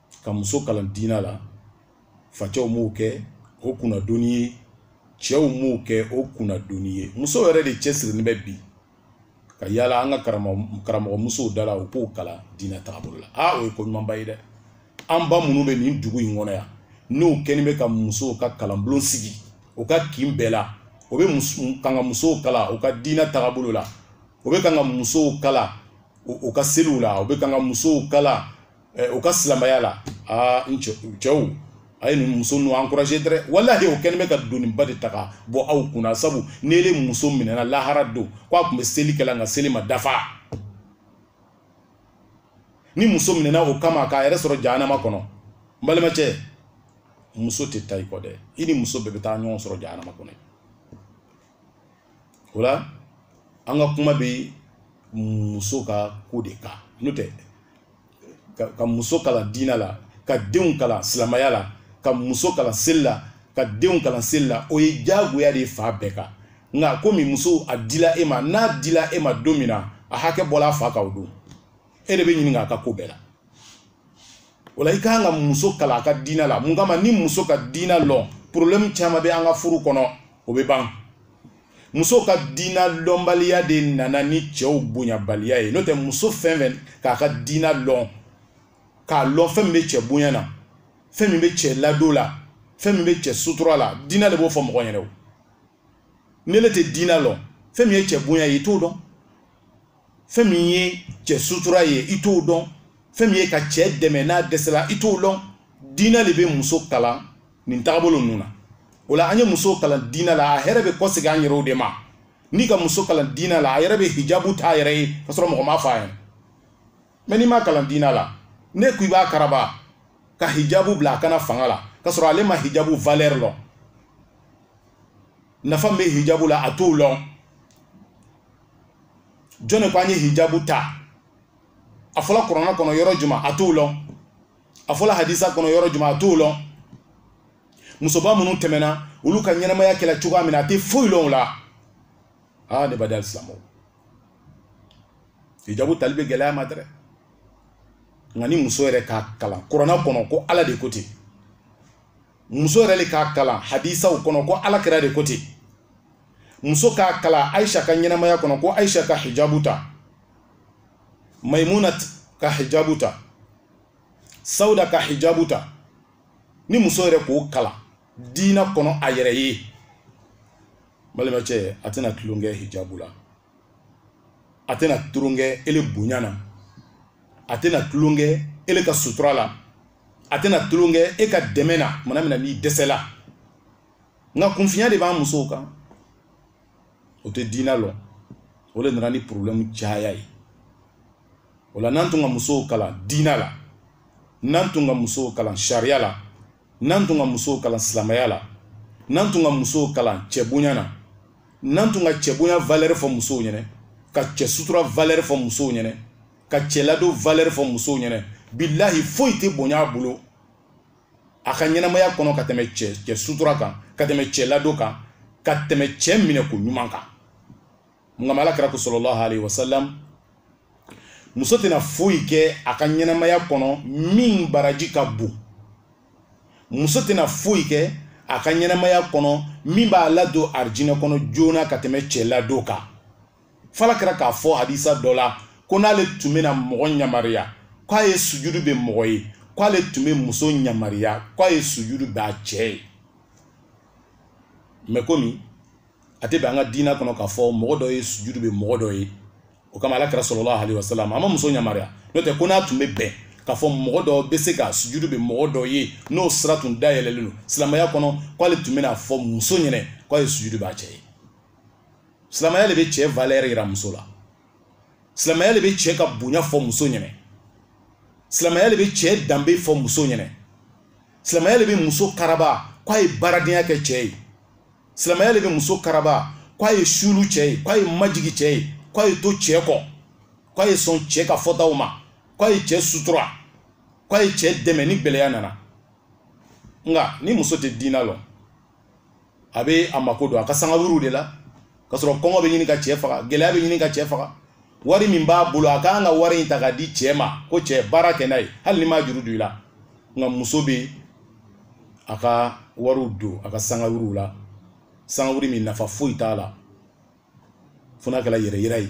ka muso kalan diinɛ la facɛw m'o kɛ o kunnadoni ye cɛw m'o kɛ o kunnadoni ye muso yɛrɛ de cɛsirilen bɛ bi ka yaala an ka karamɔgɔ musow da la u k'o kalan diinɛ taabolo la aa o ye ko ɲumanba ye dɛ an ba minnu bɛ nin dugu in kɔnɔ yan n'o kɛlen bɛ ka musow ka kalanbulon sigi o ka kin bɛɛ la o bɛ kan ka musow kalan u ka diinɛ taabolo la o bɛ kan ka musow kalan u ka seliw la o bɛ kan ka musow kalan eh, u ka silamɛya la aa n cɛw a ye nin muso ninnu encourager dɛrɛ walahi o kɛlen bɛ ka doniba de ta ka bɔ aw kunna sabu n'ele muso minɛna lahara don ko a tun bɛ seli kɛla nka seli ma dafa ni muso minɛna o kama k'a yɛrɛ sɔrɔ jahanama kɔnɔ n balimacɛ muso tɛ taa i kɔ dɛ i ni muso bɛɛ bɛ taa ɲɔgɔn sɔrɔ jahanama kɔnɔ o la an ka kuma bɛ muso ka ko de kan n'o tɛ ka muso kalan diinɛ la ka denw kalan silamɛya la ka muso kalan seli la ka denw kalan seli la o ye diyagoya de ye fa bɛɛ kan nka komi muso a dila e ma n'a dila e ma don min na a hakɛ bɔla a fa kan o don e de bɛ ɲininka a ka ko bɛɛ la o la i ka kan ka muso kalan a ka diinɛ la mun kama ni muso ka diinɛ lɔn problème caman bɛ an ka furu kɔnɔ o bɛ ban muso ka diinɛ lɔnbaliya de nana ni cɛw bonyabaliya ye n'o tɛ muso fɛn fɛn k'a ka diinɛ lɔn k'a lɔn fɛn min bɛ cɛ bonya na fɛn min bɛ cɛ ladon la fɛn min bɛ cɛ sutura la diinɛ de b'o fɔ mɔgɔ ɲɛna n'ele tɛ diinɛ lɔn fɛn min ye cɛ bonya ye i t'o dɔn fɛn min ye cɛ sutura ye i t'o dɔn fɛn min ye ka cɛ dɛmɛ n'a dɛsɛla i t'o dɔn diinɛ de bɛ muso kalan nin tagabolo ninnu na o la an ye muso kalan diinɛ la a hɛrɛ bɛ kɔsegin an yɛrɛw de ma n'i ka muso kalan diinɛ la a yɛrɛ bɛ hijabu ta a yɛrɛ ye ka sɔrɔ mɔgɔ m'a fɔ a ɲɛna mais n'i m'a kalan diinɛ la ne ko i b'a karaba ka hijabu bila a kan na fanga la ka sɔrɔ ale ma hijabu valeur lɔn nafa min bɛ hijabu la a t'o lɔn jɔn de ko an ye hijabu ta a fɔla kurana kɔnɔ yɔrɔ juman a t'o lɔn a fɔla hadisa kɔnɔ yɔrɔ juman a t'o lɔn musoba minnu tɛmɛna olu ka ɲɛnamaya kɛla cogoya min na a tɛ foyi lɔn o la aa ne baden alisilamɛw hijabu tali bɛ gɛlɛya a ma dɛrɛ nka ni muso yɛrɛ k'a kalan kurana kɔnɔ ko ala de ko ten muso yɛrɛ de k'a kalan hadisaw kɔnɔ ko ala kira de ko ten muso k'a kalan ayisa ka ɲɛnamaya kɔnɔ ko ayisa ka hijabu ta maimuna ka hijabu ta sauda ka hijabu ta ni muso yɛrɛ k'o kalan diina kɔnɔ a yɛrɛ ye balimacɛ a tɛna tulonkɛ hijabu la a tɛna tulonkɛ ele bonya na a tɛna tulonkɛ ele ka sutura la a tɛna tulonkɛ e ka dɛmɛ na tumana min na n'i dɛsɛla nka kunfinya de b'an musow kan o tɛ diinɛ lɔn o de nana ni porobilɛmu caya ye o la n'an tun ka musow kalan diinɛ la n'an tun ka musow kalan sariya la n'an tun ka musow kalan silamɛya la n'an tun ka musow kalan cɛbonya na n'an tun ka cɛbonya valɛri fɔ musow ɲɛnɛ ka cɛ sutura valɛri fɔ musow ɲɛnɛ ka cɛladon valɛri fɔ musow ɲɛnɛ bilahi foyi tɛ bonya a bolo a ka ɲɛnamaya kɔnɔ ka tɛmɛ cɛ cɛ sutura kan ka tɛmɛ cɛ ladon kan ka tɛmɛ cɛ minɛ ko ɲuman kan mun kama ala kira ko salalahu alayhi wa salam muso tɛna foyi kɛ a ka ɲɛnamaya kɔnɔ min baraji ka bon muso tɛna foyi kɛ a ka ɲɛnamaya kɔnɔ min b'a ladon arijinɛ kɔnɔ joona ka tɛmɛ cɛ ladon kan f'ala kira k'a fɔ hadisa dɔ la ko n'ale tun bɛna mɔgɔ ɲamariya k'a ye sujudu ben mɔgɔ ye k'ale tun bɛ muso ɲamariya k'a ye sujudu ben a cɛ ye mɛ komi a tɛ bɛn an ka diinɛ kɔnɔ k'a fɔ mɔgɔ dɔ ye sujudu ben mɔgɔ dɔ ye o kama ala kira salalahu alayhi wasalam a ma muso ɲamariya n'o tɛ ko n'a tun bɛ bɛn k'a fɔ mɔgɔ dɔ bɛ se ka sujudu ben mɔgɔ dɔ ye n'o sira tun dayɛlɛlen don silamɛya kɔnɔ k'ale tun bɛna fɔ muso ɲɛnɛ k'a ye sujudu b'a cɛ ye silamɛya de bɛ cɛ valɛri yira muso la silamɛya de bɛ cɛ ka bonya fɔ muso ɲɛnɛ silamɛya de bɛ cɛ danbe fɔ muso ɲɛnɛ silamɛya de bɛ muso karaba k'a ye baaradenya kɛ cɛ ye silamɛya de bɛ muso karaba k'a ye suulu cɛ ye k'a ye majigi cɛ ye k'a ye to cɛ kɔ k'a ye sɔn cɛ ka fɔtaw ma k'a ye cɛ sutura k'a ye cɛ dɛmɛ ni gɛlɛya nana nka ni muso tɛ diina lɔn a bɛ a mako don a ka sangawuliw de la ka sɔrɔ kɔngɔ bɛ ɲini ka cɛ faga gɛlɛya bɛ ɲini ka cɛ faga wari min b'a bolo a ka kan ka wari in ta k'a di cɛ ma ko cɛ baara kɛ n'a ye hali ni m'a juru don i la nka muso bɛ a ka wariw don a ka sangawuliw la sangawuli min nafa foyi t'a la fo n'a kɛra yɛrɛyira ye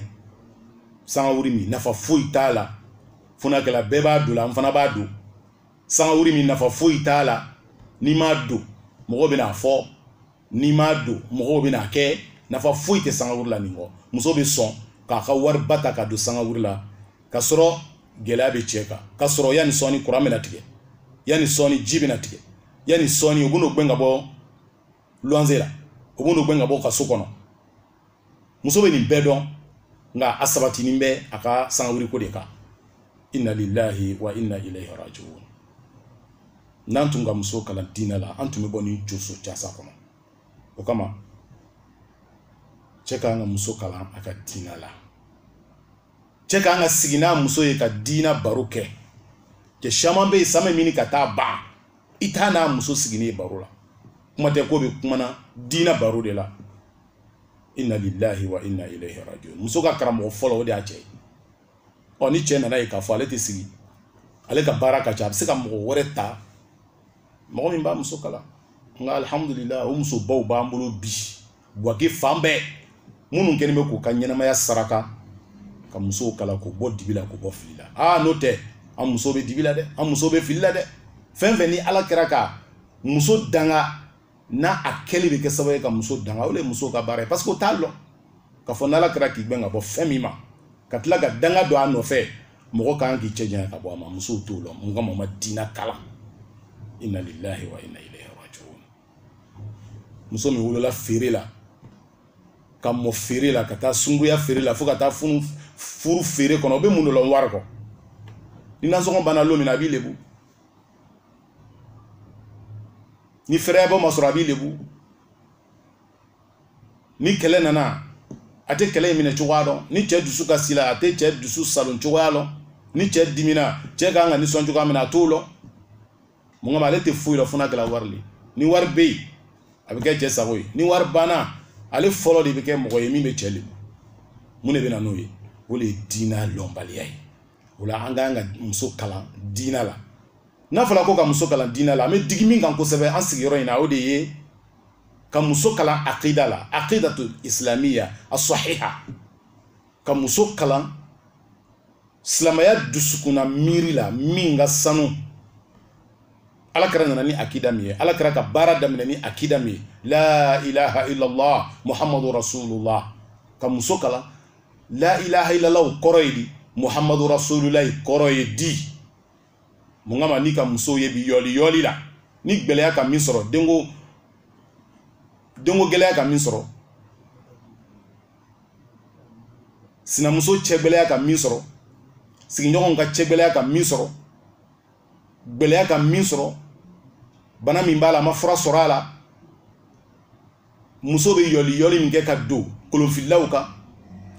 sangawuri min nafa foyi t'a la fo n'a kɛra bɛɛ b'a don la n fana b'a don sangawuri min nafa foyi t'a la n'i m'a don mɔgɔw bɛna fɔ n'i m'a don mɔgɔw bɛna kɛ nafa foyi tɛ sangawuri la nin kɔ muso bɛ sɔn k'a ka wari ba ta ka don sangawuri la ka sɔrɔ gɛlɛya bɛ cɛ kan ka sɔrɔ yanni sɔɔni kuran bɛna tigɛ yanni sɔɔni ji bɛna tigɛ yanni sɔɔni u bɛn'o gɛn ka bɔ luwanze la o b'o gɛn ka bɔ o ka so kɔnɔ muso bɛ nin bɛɛ dɔn nka a sabatinin bɛ a ka sangawiriko de kan inna lillahi wa inna ilayhi rajiun n'an tun ka muso kalan diinɛ la an tun bɛ bɔ nin joso jasa kɔnɔ o kama cɛ ka kan ka muso kalan a ka diinɛ la cɛ ka kan ka sigi n'a muso ye ka diina baro kɛ cɛ caman bɛ yen san bɛ ɲini ka taa ban i t'a n'a muso siginin ye baro la kuma tɛ ko bɛ kuma na diina baro de la inna lillahi wa inna ilayhi rajiun muso ka karamɔgɔ fɔlɔ o de y'a cɛ ye ɔ ni cɛ nan'a ye k'a fɔ ale tɛ sigi ale ka baara ka ca a bɛ se ka mɔgɔ wɛrɛ ta mɔgɔ min b'a muso kalan nka alihamudulilahi o musobaw b'an bolo bi buwake fan bɛɛ minnu kɛlen bɛ k'u ka ɲɛnamaya saraka ka musow kalan k'u bɔ dibi la k'u bɔ fili la aa n'o tɛ an muso bɛ dibi la dɛ an muso bɛ fili la dɛ fɛn fɛn ni ala kira ka muso danga n'a kɛli bɛ kɛ sababu ye ka muso danga o de ye muso ka baara ye parce que o t'a lɔn k'a fɔ n'ala kira k'i gbɛn ka bɔ fɛn min ma ka tila ka danga don a nɔfɛ mɔgɔ ka kan k'i cɛ janya ka bɔ a ma musow t'o lɔn mun kama u ma diina kalan inna lillahi wa inna ilayhi rajiun muso min wolola feere la ka mɔ feere la ka taa sunguya feere la fo ka taa funu furu feere kɔnɔ o bɛ mun de lɔn wari kɔ ni nasɔngɔ banna don min na a b'i lebu ni fɛrɛyabɔ ma sɔrɔ a b'i lebu ni kɛlɛ nana a tɛ kɛlɛ in minɛ cogoya dɔn ni cɛ dusu kasila a tɛ cɛ dusu saalo cogoya dɔn ni cɛ dimina cɛ ka kan ka nisɔn cogoya min na a t'o dɔn mun kama ale tɛ foyi dɔn fo n'a kɛra wari le ni wari bɛ yen a bɛ kɛ cɛ sago ye ni wari banna ale fɔlɔ de bɛ kɛ mɔgɔ ye min bɛ cɛ lebu mun de bɛ na n'o ye o de ye diinɛ lɔnbaliya ye o la an ka kan ka muso kalan diinɛ la n'a fɔra ko ka muso kalan diinɛ la an bɛ digi min kan kosɛbɛ an sigiyɔrɔ in na o de ye ka muso kalan akida la akidatu isilamiya asɔhiha ka muso kalan silamɛya dusukunna miiri la min ka sanu ala kira nana ni akida min ye ala kira ka baara daminɛ ni akida min ye la ilaha illallah muhammadu rasulullah ka muso kalan la ilaha illallah kɔrɔ ye di muhammadu rasulullah kɔrɔ ye di mun kama n'i ka muso ye bi yɔli yɔli la ni gɛlɛya ka min sɔrɔ denko denko gɛlɛya ka min sɔrɔ sinamuso cɛ gɛlɛya ka min sɔrɔ sigiɲɔgɔnw ka cɛ gɛlɛya ka min sɔrɔ gɛlɛya ka min sɔrɔ bana min b'a la a ma fura sɔrɔ a la muso bɛ yɔli yɔli min kɛ ka don kolonfililaw kan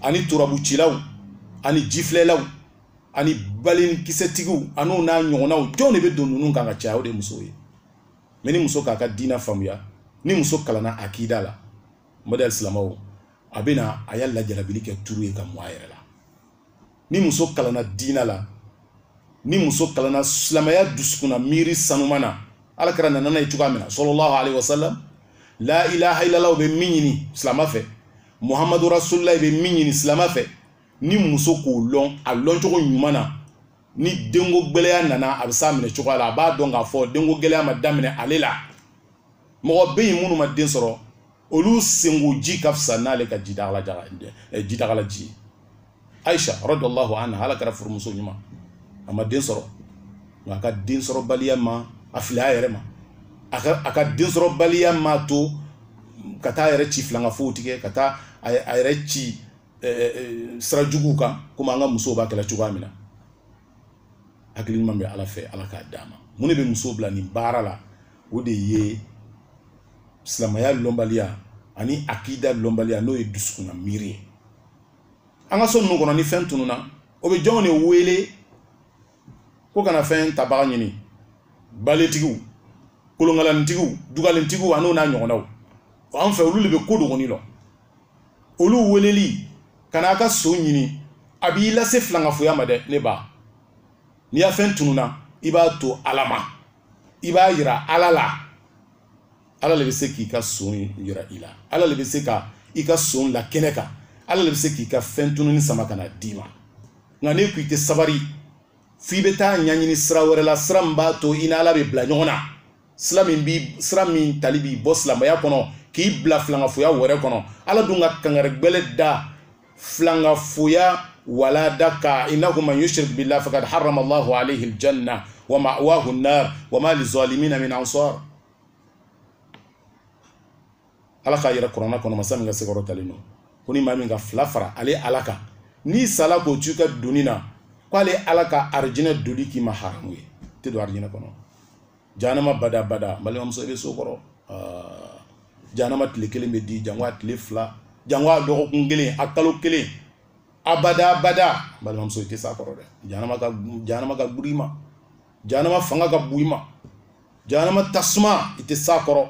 ani turabucilaw ani jifilɛlaw ani balenkisɛtigiw an'o n'a ɲɔgɔnnaw jɔn de bɛ don ninnu kan ka caya o de musow ye mɛ ni muso k'a ka diina faamuya ni muso kalanna akida la mɔdɛli silamaw a bɛ na a y'a lajalabili kɛ turu ye k'a mu a yɛrɛ la ni muso kalanna diina la ni muso kalanna silamɛya dusukunna miiri sanuma na ala kira nana n'a ye cogoya min na sallallahu alayhi wa sallam la ilaha illallah bɛ min ɲini silama fɛ muhamadu rasulillah bɛ min ɲini silama fɛ ni muso k'o lɔn a lɔn cogo ɲuman na ni denko gɛlɛya nana a bɛ s'a minɛ cogoya la a b'a dɔn k'a fɔ denko gɛlɛya ma daminɛ ale la mɔgɔ bɛ yen minnu ma den sɔrɔ olu senkoji ka fisa n'ale ka jidaga la eh, jidaga la ji ye ayisa radiyallahu anha ala kira furumuso ɲuman a ma den sɔrɔ nka a ka den sɔrɔbaliya ma a fili a yɛrɛ ma a ka a ka den sɔrɔbaliya m'a to ka taa a yɛrɛ ci filankafow tigɛ ka taa a yɛrɛ ci eh, eh, sira juguw kan komi an ka musow b'a kɛla cogoya min na hakili ɲuman bɛ ala fɛ ala k'a d'an ma mun de bɛ muso bila nin baara la o de ye silamɛya lɔnbaliya ani akida lɔnbaliya n'o ye dusukunna miiri ye an ka so ninnu kɔnɔ ni fɛn tununna o bɛ jɔnw de wele k'o ka na fɛn tabaga ɲini baletigiw kolonkalanitigiw dugalintigiw an'o n'a ɲɔgɔnnaw an fɛ olu de bɛ ko dogoni lɔn olu weleli ka n'a ka son ɲini a b'i lase filankafoya ma dɛ ne ba n'i ya fɛn tununa i b'a to ala ma i b'a yira ala la ala le bɛ se k'i ka son yira i la ala le bɛ se ka i ka son la kɛnɛ kan ala le bɛ se k'i ka fɛn tununi sama ka na d'i ma nka n'e ko i tɛ sabari f'i bɛ taa ɲɛɲini sira wɛrɛ la sira min b'a to i ni ala bɛ bila ɲɔgɔn na sira min bi sira min tali b'i bɔ silamɛya kɔnɔ k'i bila filankafoya wɛrɛ kɔnɔ ala dun ka kangari gbɛlɛn da filankafoya wale de kan innahu man yushrik billah faqad harrama allahu alayhi aljanna wa ma'wahu an-nar wa ma lizalimina min ansar ala k'a yɛrɛ kuranna kɔnɔ masa min ka se kɔrɔtalen don ko ni maa min ka filan fara ale ala kan n'i sala k'o to i ka doni na k'ale ala ka arijinɛ donni k'i ma haramu ye i tɛ don arijinɛ kɔnɔ janama bada bada balimamuso i bɛ s'o kɔrɔ ah, janama tile kelen bɛ di jango a tile fila jango a dɔgɔkun kelen a kalo kelen abada abada balimamuso i tɛ s'a kɔrɔ dɛ janama ka janama ka guri i ma janama fanga ka bon i ma janama tasuma i tɛ s'a kɔrɔ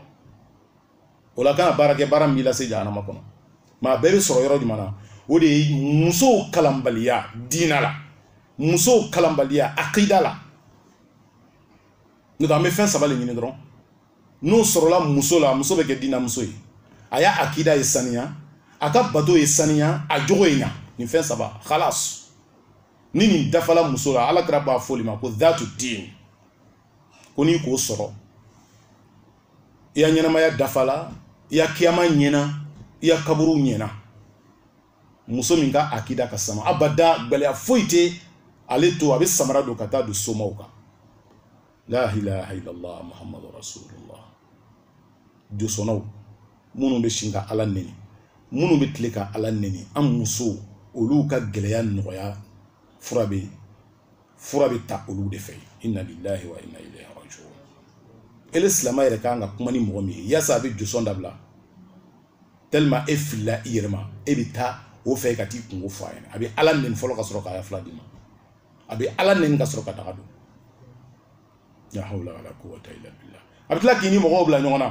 o la kana baara kɛ baara min b'i lase janama kɔnɔ mais a bɛɛ bɛ sɔrɔ yɔrɔ jumɛn na o de ye musow kalanbaliya diina la musow kalanbaliya akida la n'o tɛ an bɛ fɛn saba de ɲini dɔrɔn n'o sɔrɔla muso la muso bɛ kɛ diinamuso ye a ya akida ye saniya a ka bato ye saniya a jogo ye ɲa nin fɛn saba halas ni nin dafala muso la ala kira b'a f'o de ma ko dhatu din ko n'i k'o sɔrɔ i ya ɲɛnamaya dafala i ya kiyama ɲɛna i ya kaburu ɲɛna muso min ka akida ka sama abada gɛlɛya foyi tɛ ale to a bɛ samara don ka taa don somaw kan la ilaha illallah muhammadu rasulullah josɔnnaw minnu bɛ si ka ala nɛni minnu bɛ tile ka ala nɛni an musow olu ka gɛlɛya nɔgɔya fura bɛ fura bɛ ta olu de fɛ inna lillahi wa inna ilayhi rajiun ele silamɛ yɛrɛ kan ka kuma ni mɔgɔ min ye yaasa a bɛ josɔn dabila tellement e filila i yɛrɛ ma e bɛ taa o fɛ ka t'i kunko fɔ a ɲɛna a bɛ ala nɛni fɔlɔ ka sɔrɔ ka fura d'i ma a bɛ ala nɛni ka sɔrɔ ka daga don la hawla wala quwwata illa billah a bɛ tila k'i ni mɔgɔw bila ɲɔgɔn na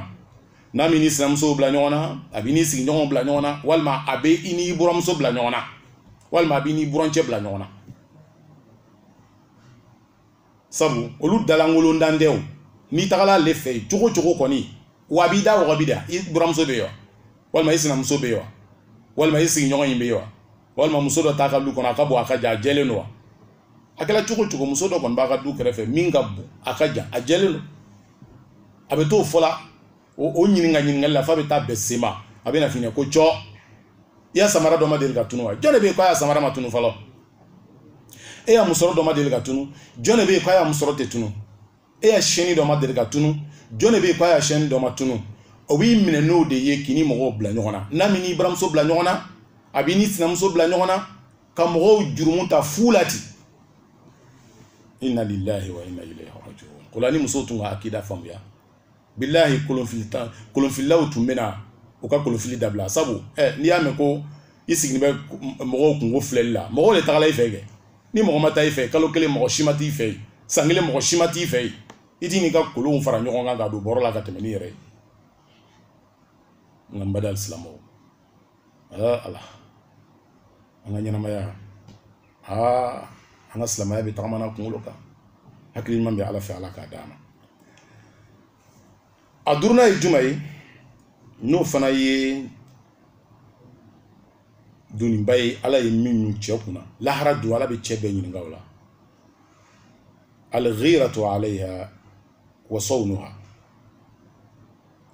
n'a m'i n'i sinamusow bila ɲɔgɔn na a b'i n'i sigiɲɔgɔnw bila ɲɔgɔn na walima a bɛ i n'i buramuso bila ɲɔgɔn na walima a b'i n'i burancɛ bila ɲɔgɔn na sabu olu dalankolon dan tɛ o n'i tagala ale fɛ yen cogo cogo kɔni wa a b'i da waga b'i da i buramuso bɛ yen wa walima i sinamuso bɛ yen wa walima i sigiɲɔgɔn in bɛ yen wa walima muso dɔ t'a ka du kɔnɔ a ka bon a ka jan a jɛlen don wa a kɛra cogo cogo muso dɔ kɔni b'a ka du kɛrɛfɛ min ka bon a ka jan a jɛlen don a bɛ t'o fɔ la o o ɲininka ɲininkali la f'a bɛ taa bɛn sen ma a bɛna f'i ɲɛ ko jɔ i ya samara dɔ ma deli ka tunu wa jɔn de bɛ yen k'a ya samara ma tunu fɔlɔ e ya musɔrɔ dɔ ma deli ka tunu jɔn de bɛ yen k'a ya musɔrɔ tɛ tunu e ya siyɛnni dɔ ma deli ka tunu jɔn de bɛ yen k'a ya siyɛnni dɔ ma tunu o b'i minɛ n'o de ye k'i ni mɔgɔw bila ɲɔgɔn na n'a m'i n'i buramuso bila ɲɔgɔn na a b'i n'i sinamuso bila ɲɔgɔn na ka mɔgɔw jurumu ta fu la ten inna lillahi wa inna ilayhi rajiun o la ni muso tun ka akida faamuya bilahi kolonfili tan kolonfililaw tun bɛna u ka kolonfili dabila sabu ɛ n'i y'a mɛn ko i sigilen bɛ mɔgɔw kunko filɛli la mɔgɔw de tagala i fɛ kɛ ni mɔgɔ ma taa i fɛ kalo kelen mɔgɔ si ma t'i fɛ yen san kelen mɔgɔ si ma t'i fɛ yen i t'i n'i ka kolonw fara ɲɔgɔn kan ka don bɔrɔ la ka tɛmɛ n'i yɛrɛ ye nka n baden silamɛw aa ala an ka ɲɛnamaya aa an ka silamɛya bɛ tagamana kunkolo kan hakili ɲuman bɛ ala fɛ ala k'a d'an ma a duurunan ye juman ye n'o fana ye doniba ye ala ye min ɲun cɛ kun na lahara don ala bɛ cɛ bɛɛ ɲininka o la alghiratu alayha wa sawnuha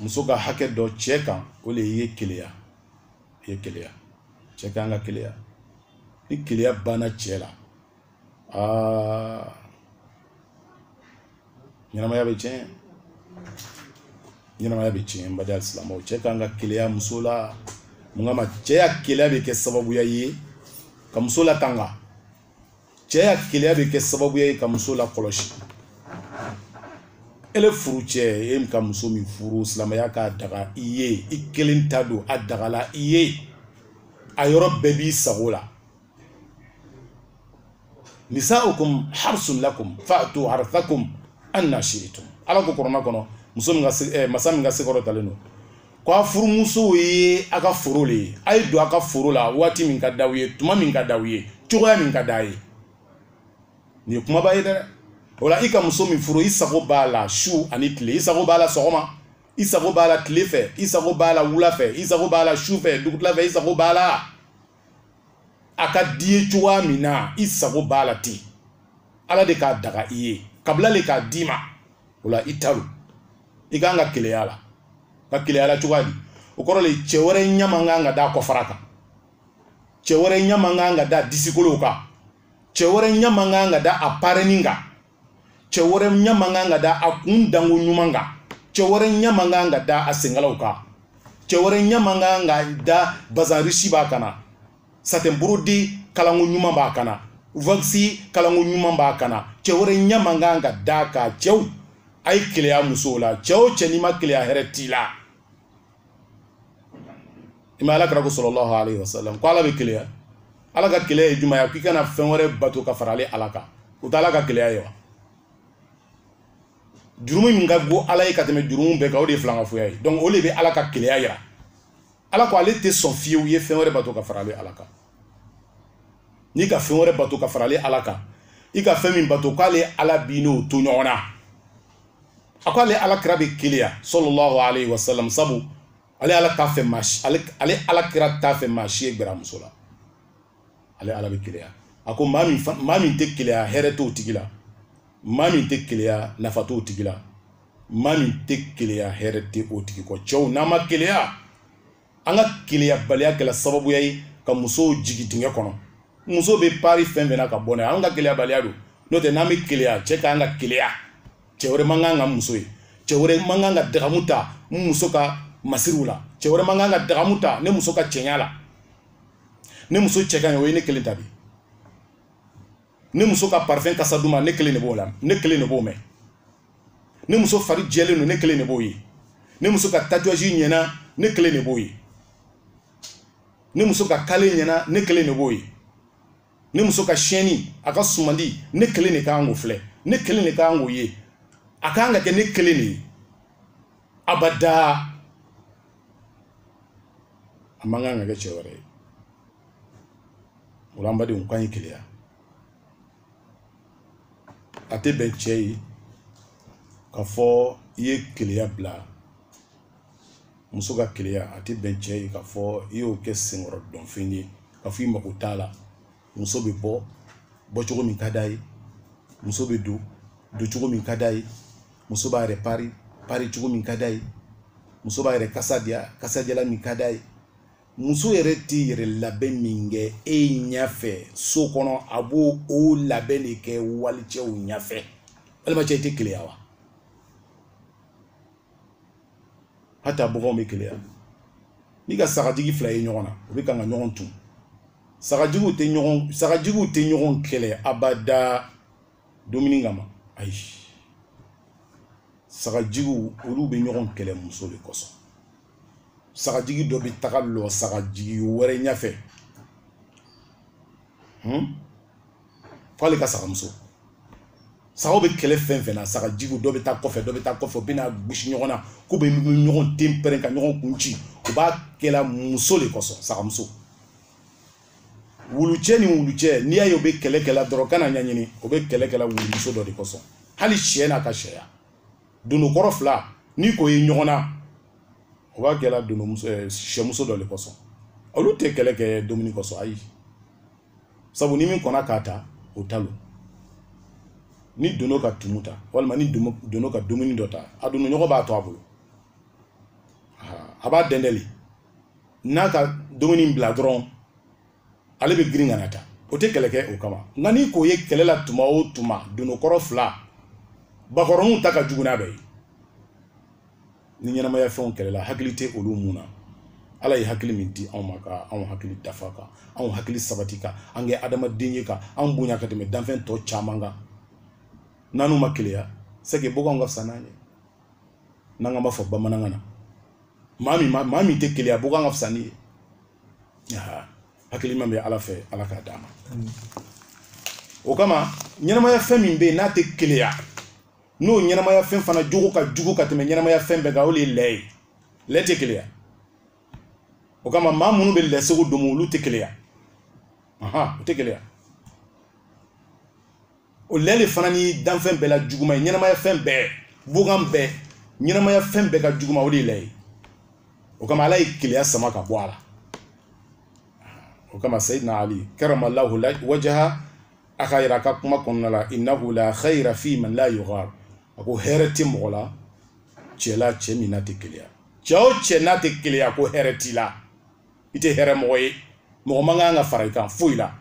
muso ka hakɛ dɔ cɛ kan o de ye keleya ye keleya cɛ kan ka keleya ni keleya banna cɛ la aa ɲɛnamaya bɛ tiɲɛ ɲɛnamaya bɛ tiɲɛ n baden alisilamɛw cɛ kan ka keleya muso la mun kama cɛ ya keleya bɛ kɛ sababuya ye ka muso latanga cɛ ya keleya bɛ kɛ sababuya ye ka muso lakɔlɔsi ele furucɛ e ka muso min furu silamɛya k'a daga i ye i kelen ta don a dagala i ye a yɔrɔ bɛɛ b'i sago la nisaukum harsun lakum fatu harthakum anna shi'tum ala ko kurana kɔnɔ muso min ka eh, masa min ka se kɔrɔtalen don ko a furumusow ye a ka foro le ye a ye don a ka foro la waati min ka d'aw ye tuma min ka d'aw ye cogoya min ka d'a ye nin ye kumaba ye dɛ o la i ka muso min furu i sago b'a la su ani tile i sago b'a la sɔgɔma i sago b'a la tile fɛ i sago b'a la wula fɛ i sago b'a la su fɛ dugutila fɛ i sago b'a la a ka d'i ye cogoya min na i sago b'a la ten ala de k'a daga i ye kabila le k'a d'i ma o la i ta don i kan ka keleya la ka keleya la cogoya di o kɔrɔ le cɛ wɛrɛ ɲɛ man kan ka da kɔfara kan cɛ wɛrɛ ɲɛ man kan ka da disikolow kan cɛ wɛrɛ ɲɛ man kan ka da a parenin kan cɛ wɛrɛ ɲɛ man kan ka da a kun danko ɲuman kan cɛ wɛrɛ ɲɛ man kan ka da a senkalaw kan cɛ wɛrɛ ɲɛ man kan ka da bazin riche b'a kan na satin brodé kalanko ɲuman b'a kan na wax kalanko ɲuman b'a kan na cɛ wɛrɛ ɲɛ man kan ka d'a kan cɛw a ye keleya musow la cɛ o cɛ n'i ma keleya hɛrɛ t'i la i ma alakira ko sallallahu alayhi wa sallam ko ala bɛ keleya ala ka keleya ye jumɛn ye k'i kana fɛn wɛrɛ bato ka fara ale ala kan o tɛ ala ka keleya ye wa jurumu min ka go ala ye ka tɛmɛ jurumu bɛɛ kan o de ye filankafoya ye donc o de bɛ ala ka keleya yira ala ko ale tɛ sɔn fiyewu i ye fɛn wɛrɛ bato ka fara ale ala kan n'i ka fɛn wɛrɛ bato ka fara ale ala kan i ka fɛn min bato k'ale ala b'i n'o to ɲɔgɔn na a ko ale alakira bɛ keleya sallallahu alayhi wa sallam sabu ale ala t'a fɛ maa si ale ale alakira t'a fɛ maa si ye gbɛr'a muso la ale ala bɛ keleya a ko maa min maa min tɛ keleya hɛrɛ t'o tigi la maa min tɛ keleya nafa t'o tigi la maa min tɛ keleya hɛrɛ tɛ o tigi kɔ cɛw n'an ma keleya an ka keleyabaliya kɛla sababuya ye ka musow jigi dingɛ kɔnɔ muso bɛ pari fɛn fɛn na ka bɔ n'a ye an ka keleyabaliya don n'o tɛ n'an bɛ keleya cɛ ka kan ka keleya cɛ wɛrɛ man kan ka n muso ye cɛ wɛrɛ man kan ka dagamu ta n muso ka masiriw la cɛ wɛrɛ man kan ka dagamu ta ne muso ka cɛɲa la ne muso cɛ ka ɲi o ye ne kelen ta de ye ne muso ka parfum kasa duma ne kelen de b'o la ne kelen de b'o mɛn ne muso fari jɛlen don ne kelen de b'o ye ne muso ka tatouage ɲɛna ne kelen de b'o ye ne muso ka kale ɲɛna ne kelen de b'o ye ne muso ka siyɛnni a ka sumandi ne kelen de ka kan k'o filɛ ne kelen de ka kan k'o ye a ka kan ka kɛ ne kelen de ye abada a man kan ka kɛ cɛ wɛrɛ ye o la an badenw k'an ye keleya a tɛ bɛn cɛ ye k'a fɔ i ye keleya bila muso ka keleya a tɛ bɛn cɛ ye k'a fɔ i y'o kɛ senkɔrɔ dɔnfɛn ye k'a fɔ i mago t'a la muso bɛ bɔ bɔcogo min ka d'a ye muso bɛ don doncogo min ka d'a ye muso b'a yɛrɛ pari paricogo min ka d'a ye muso b'a yɛrɛ kasa diya kasadiyalan min ka d'a ye muso yɛrɛ tɛ yɛrɛ labɛn min kɛ e ɲɛfɛ so kɔnɔ a b'o labɛn de kɛ walicɛw ɲɛfɛ walima cɛ i tɛ keleya wa hata baganw bɛ keleya n'i ka sagajigi fila ye ɲɔgɔn na u bɛ kan ka ɲɔgɔn tu sagajigiw tɛ ɲɔgɔn sagajigiw tɛ ɲɔgɔn kɛlɛ abada dumuni kama ayi sagajigiw olu bɛ ɲɔgɔn kɛlɛ muso de kosɔn sagajigi dɔ bɛ taga lɔ sagajigi wɛrɛ ɲɛfɛ hmm? f'ale ka sagamuso sagaw bɛ kɛlɛ fɛn fɛn na sagajigiw dɔ bɛ taa kɔfɛ dɔ bɛ taa kɔfɛ u bɛ na gosi ɲɔgɔn na k'u bɛ ɲɔgɔn ten pɛrɛn ka ɲɔgɔn kun ci u b'a kɛla muso de kosɔn sagamuso wulucɛ ni wulucɛ n'i y'a ye u bɛ kɛlɛ kɛla dɔrɔn kana ɲɛɲini u bɛ kɛlɛ kɛla wulumuso dɔ de kosɔn hali sɛ n'a ka sɛya dondokɔrɔ fila n'i k'o ye ɲɔgɔn na o b'a kɛla dondomuso eh, sɛmuso dɔ le kosɔn olu tɛ kɛlɛ kɛ dumuni kosɔn ayi sabu ni min kɔnna k'a ta o ta lo ni dono ka tumu ta walima ni dono ka dumuni dɔ ta a dondoɲɔgɔn b'a to a bolo a b'a dɛndɛ le n'a ka dumuni bila dɔrɔn ale bɛ girin ka n'a ta o tɛ kɛlɛ kɛ o kama nka n'i k'o ye kɛlɛ la tuma o tuma dononkɔrɔ fila bakɔrɔninw ta ka jugu n'a bɛɛ ye ni ɲɛnamaya fɛnw kɛlɛla hakili tɛ olu minnu na ala ye hakili min di anw ma ka anw hakili dafa ka anw hakili sabati ka an kɛ adamaden ye ka anw bonya ka tɛmɛ danfɛn tɔ caman kan n'anw ma keleya c'est que boganw ka fisa n'an ye n'an ka b'a fɔ bamanankan na maa min maa min tɛ keleya bogan ka fisa n'i ye hakili ɲuman bɛ ala fɛ ala k'a d'an ma o kama ɲɛnamaya fɛn min bɛ yen n'a tɛ keleya n'o ɲɛnamaya fɛn fana jogo ka jugu ka tɛmɛ ɲɛnamaya fɛn bɛɛ kan o de ye lɛ ye lɛ tɛ keleya o kama maa minnu bɛ lɛ sogo domo olu tɛ keleya u tɛ keleya o lɛ de fana ni danfɛn bɛɛ la juguman ye ɲɛnamaya fɛn bɛɛ bogan bɛɛ ɲɛnamaya fɛn bɛɛ ka juguma o de ye lɛ ye o kama ala ye keleya sama ka bɔ a la o kama sayidina ali karamalahu wajaha a k'a yira a ka kuma kɔnɔna la innahu la khayra fi man la yaghar a ko hɛrɛ tɛ mɔgɔ la cɛ la cɛ min n'a tɛ keleya cɛ o cɛ n'a tɛ keleya ko hɛrɛ t'i la i tɛ hɛrɛ mɔgɔ ye mɔgɔ man kan ka fara i kan foyi la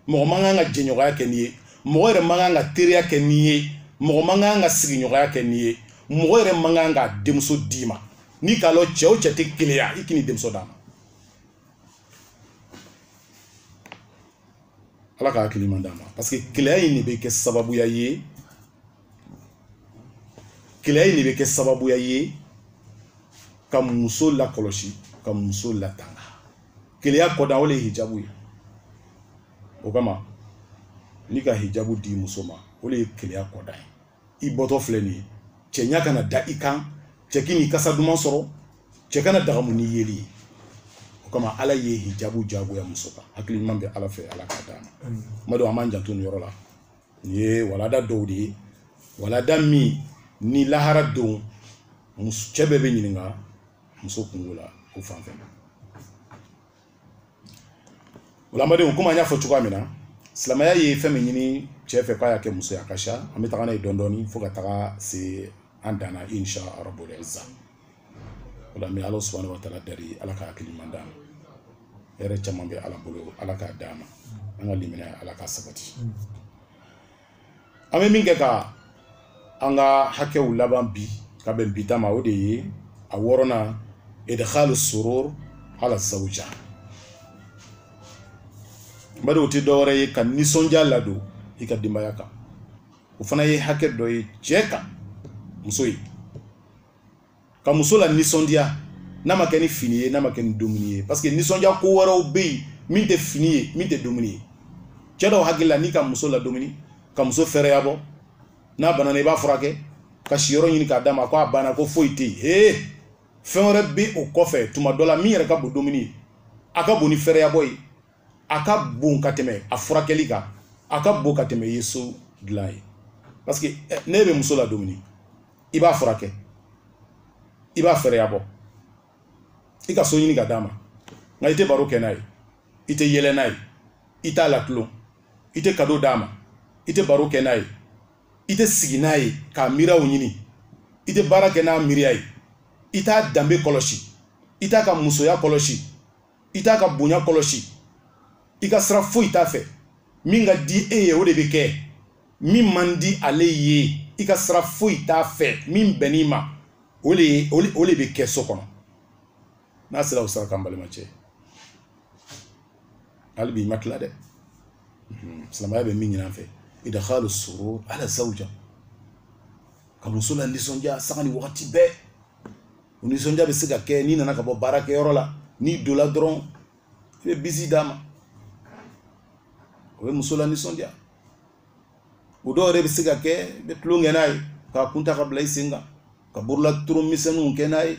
mɔgɔ man kan ka jɛɲɔgɔnya kɛ n'i ye mɔgɔ yɛrɛ man kan ka teriya kɛ n'i ye mɔgɔ man kan ka sigiɲɔgɔnya kɛ n'i ye mɔgɔ yɛrɛ man kan ka denmuso d'i ma n'i k'a lɔn cɛ o cɛ tɛ keleya i kan'i denmuso d'a ma ala ka hakili ɲuman d'an ma parce que keleya in de bɛ kɛ sababuya ye keleya in de bɛ kɛ sababuya ye ka muso lakɔlɔsi ka muso latanga keleya kɔda o le ye hijabu ye o kama n'i ka hijabu di muso ma o le ye keleya kɔda ye i bɔtɔ filɛ nin ye cɛ ɲa kana da i kan cɛ kan'i kasa duman sɔrɔ cɛ kana dagamu n'i yeli ye o kama ala ye hijabu jagoya muso kan hakili ɲuman bɛ ala fɛ ala k'a d'an ma kuma dɔ an b'an janto nin yɔrɔ la nin ye walanda dɔw de ye walanda min ni lahara don cɛ bɛɛ bɛ ɲininka muso kunko la o fan fɛ silamɛdenw komi an y'a fɔ cogoya min na silamɛya ye fɛn min ɲini cɛ fɛ k'a y'a kɛ muso ye a ka ca an bɛ taga n'a ye dɔɔnin dɔɔnin fo ka taga se an dan na insha rabu o la an bɛ ala subahana wa taala dari ala ka hakili ɲuman d'an ma hɛrɛ caman bɛ ala bolo ala k'a d'an ma an ka limaniya ala k'a sabati an bɛ min kɛ ka an ka hakɛw laban bi ka bɛn bi ta ma o de ye a wɔɔrɔnan idkhalu surur ala zawuja bari o tɛ dɔwɛrɛ ye ka nisɔndiya ladon i ka denbaya kan o fana ye hakɛ dɔ ye cɛ kan muso ye ka muso lanisɔndiya n'a ma kɛ ni fini ye n'a ma kɛ ni dumuni ye parce que nisɔndiya ko wɛrɛw bɛ yen min tɛ fini ye min tɛ dumuni ye cɛ dɔw hakili la n'i ka muso ladumuni ka muso fɛrɛya bɔ n'a bana na i b'a furakɛ ka siyɔrɔ ɲini k'a d'a ma ko a banna ko foyi tɛ yen hee fɛn wɛrɛ bɛ o kɔfɛ tuma dɔ la min yɛrɛ ka bon dumuni ye a ka bon ni fɛrɛya bɔ ye a ka bon ka tɛmɛ a furakɛli kan a ka bon ka tɛmɛ i ye so dilan ye parce que eh, n'i bɛ muso ladumuni i b'a furakɛ i b'a fɛɛrɛya bɔ i ka so ɲini k'a d'a ma nka i tɛ baro kɛ n'a ye i tɛ yɛlɛ n'a ye i t'a latulon i tɛ kado d'a ma i tɛ baro kɛ n'a ye i tɛ sigi n'a ye k'a miiriyaw ɲini i tɛ baara kɛ n'a miiriya ye i t'a danbe kɔlɔsi i t'a ka musoya kɔlɔsi i t'a ka bonya kɔlɔsi i ka sira foyi t'a fɛ min ka di e ye o de bɛ kɛ min man di ale ye i ka sira foyi t'a fɛ min bɛnn'i ma o de bɛ kɛ so kɔnɔ n'a sera o sira kan balimacɛ hali bi i ma tila dɛ mhm. silamɛya bɛ min ɲini an fɛ idkhalu surur ala zawja ka muso lanisɔndiya sanga ni wagati bɛɛ o nisɔndiya bɛ se ka kɛ n'i nana ka bɔ baarakɛyɔrɔ la n'i donna dɔrɔn i bɛ bisi d'a ma o bɛ muso lanisɔndiya o dɔw yɛrɛ bɛ se ka kɛ i bɛ tulonkɛ n'a ye k'a kun ta k'a bila i sen kan ka bolola tulon misɛnninw kɛ n'a ye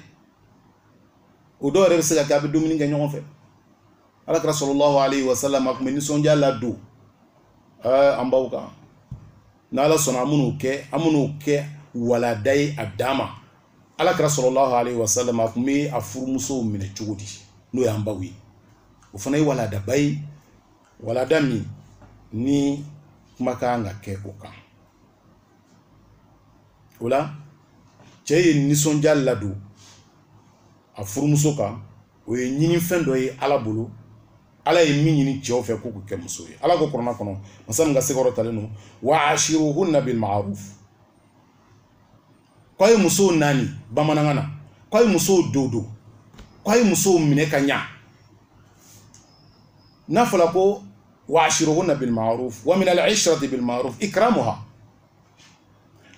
o dɔw yɛrɛ bɛ se ka kɛ a bɛ dumuni kɛ ɲɔgɔn fɛ ala kira sallallahu alayhi wa sallam a tun bɛ nisɔndiya ladon ɛɛ an baw kan n'ala sɔnna an bɛn'o kɛ an bɛn'o kɛ walanda ye a dan ma ala kira sallallahu alayhi wa sallam a tun bɛ a furumusow minɛ cogo di n'o y'an baw ye o fana ye walandaba ye walanda min ni kuma ka kan ka kɛ o kan o la cɛ ye nisɔndiya ladon a furumuso kan o ye ɲinifɛn dɔ ye ala bolo ala ye min ɲini cɛw fɛ k'u kɛ muso ye ala ko kuranɛ kɔnɔ masa min ka se kɔrɔtalen don wa ashiruhunna bil ma'ruf k'a ye musow naani bamanankan na k'a ye musow dodo k'a ye musow minɛ ka ɲa n'a fɔla ko wa ashiruhunna bil ma'ruf wa min al ishrati bil ma'ruf ikramuha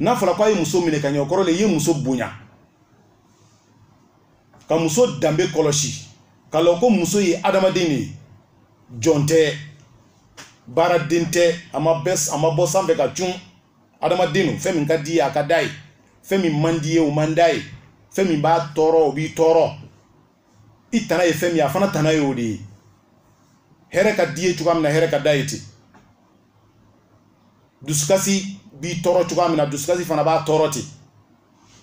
n'a fɔla k'a ye muso minɛ ka ɲa o kɔrɔ le i ye muso bonya ka muso danbe kɔlɔsi ka lɔn ko muso ye adamaden de ye jɔn tɛ baaraden tɛ a ma bɔ sanfɛ ka cun adamaden don fɛn min ka d'i ye a ka d'a ye fɛn min man d'i ye o man d'a ye fɛn min b'a tɔɔrɔ o b'i tɔɔrɔ i tana ye fɛn min ye a fana tana ye o de ye hɛrɛ ka d'i ye cogoya min na hɛrɛ ka d'a ye ten dusukasi b'i tɔɔrɔ cogoya min na dusukasi fana b'a tɔɔrɔ ten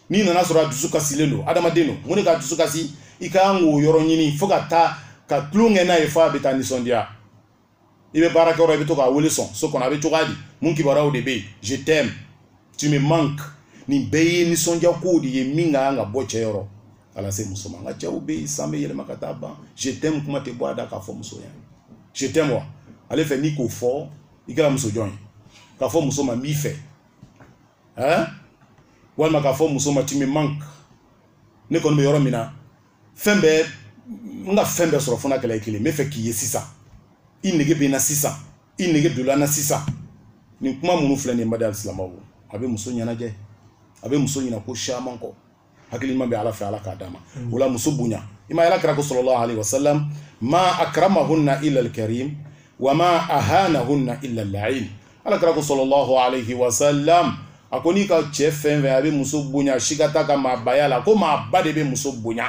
n'i nan'a sɔrɔ a dusu kasilen don adamaden don mun de k'a dusu kasi i ka kan k'o yɔrɔ ɲini fo ka taa ka tulon kɛ n'a ye fo a bɛ taa nisɔndiya i bɛ baara kɛyɔrɔ i bɛ to k'a wele sɔn so kɔnɔ a bɛ cogoya di mun kibaruyaw de bɛ yen je t'aime tu me manque nin bɛɛ ye nisɔndiya kow de ye min ka kan ka bɔ cɛ yɔrɔ ka na se muso ma nka cɛw bɛ yen san bɛ yɛlɛma ka taa ban je t'aime kuma tɛ bɔ a da k'a fɔ muso ye je t'aime wa ale fɛ n'i k'o fɔ i kɛra muso jɔn ye k'a fɔ muso ma n b'i fɛ eh? walima k'a fɔ muso ma tu me manque ne kɔni bɛ yɔrɔ min na fɛn bɛɛ n ka fɛn bɛɛ sɔrɔ fo n'a kɛla i kelen n bɛ fɛ k'i ye sisan i nege bɛ n na sisan i nege donna n na sisan nin kuma minnu filɛ nin ye badenya silamɛw a bɛ muso ɲɛnajɛ a bɛ muso ɲina ko caman kɔ hakili ɲuman bɛ ala fɛ ala k'a d'an ma o la muso bonya i ma ala kira ko sallallahu alayhi wa sallam ma akramahunna illa alkarim wa ma ahanahunna illa allaim ala kira ko sallallahu alayhi wa sallam a ko n'i ka cɛ fɛn fɛn y'a bɛ muso bonya sika t'a ka maabaya la ko maaba de bɛ muso bonya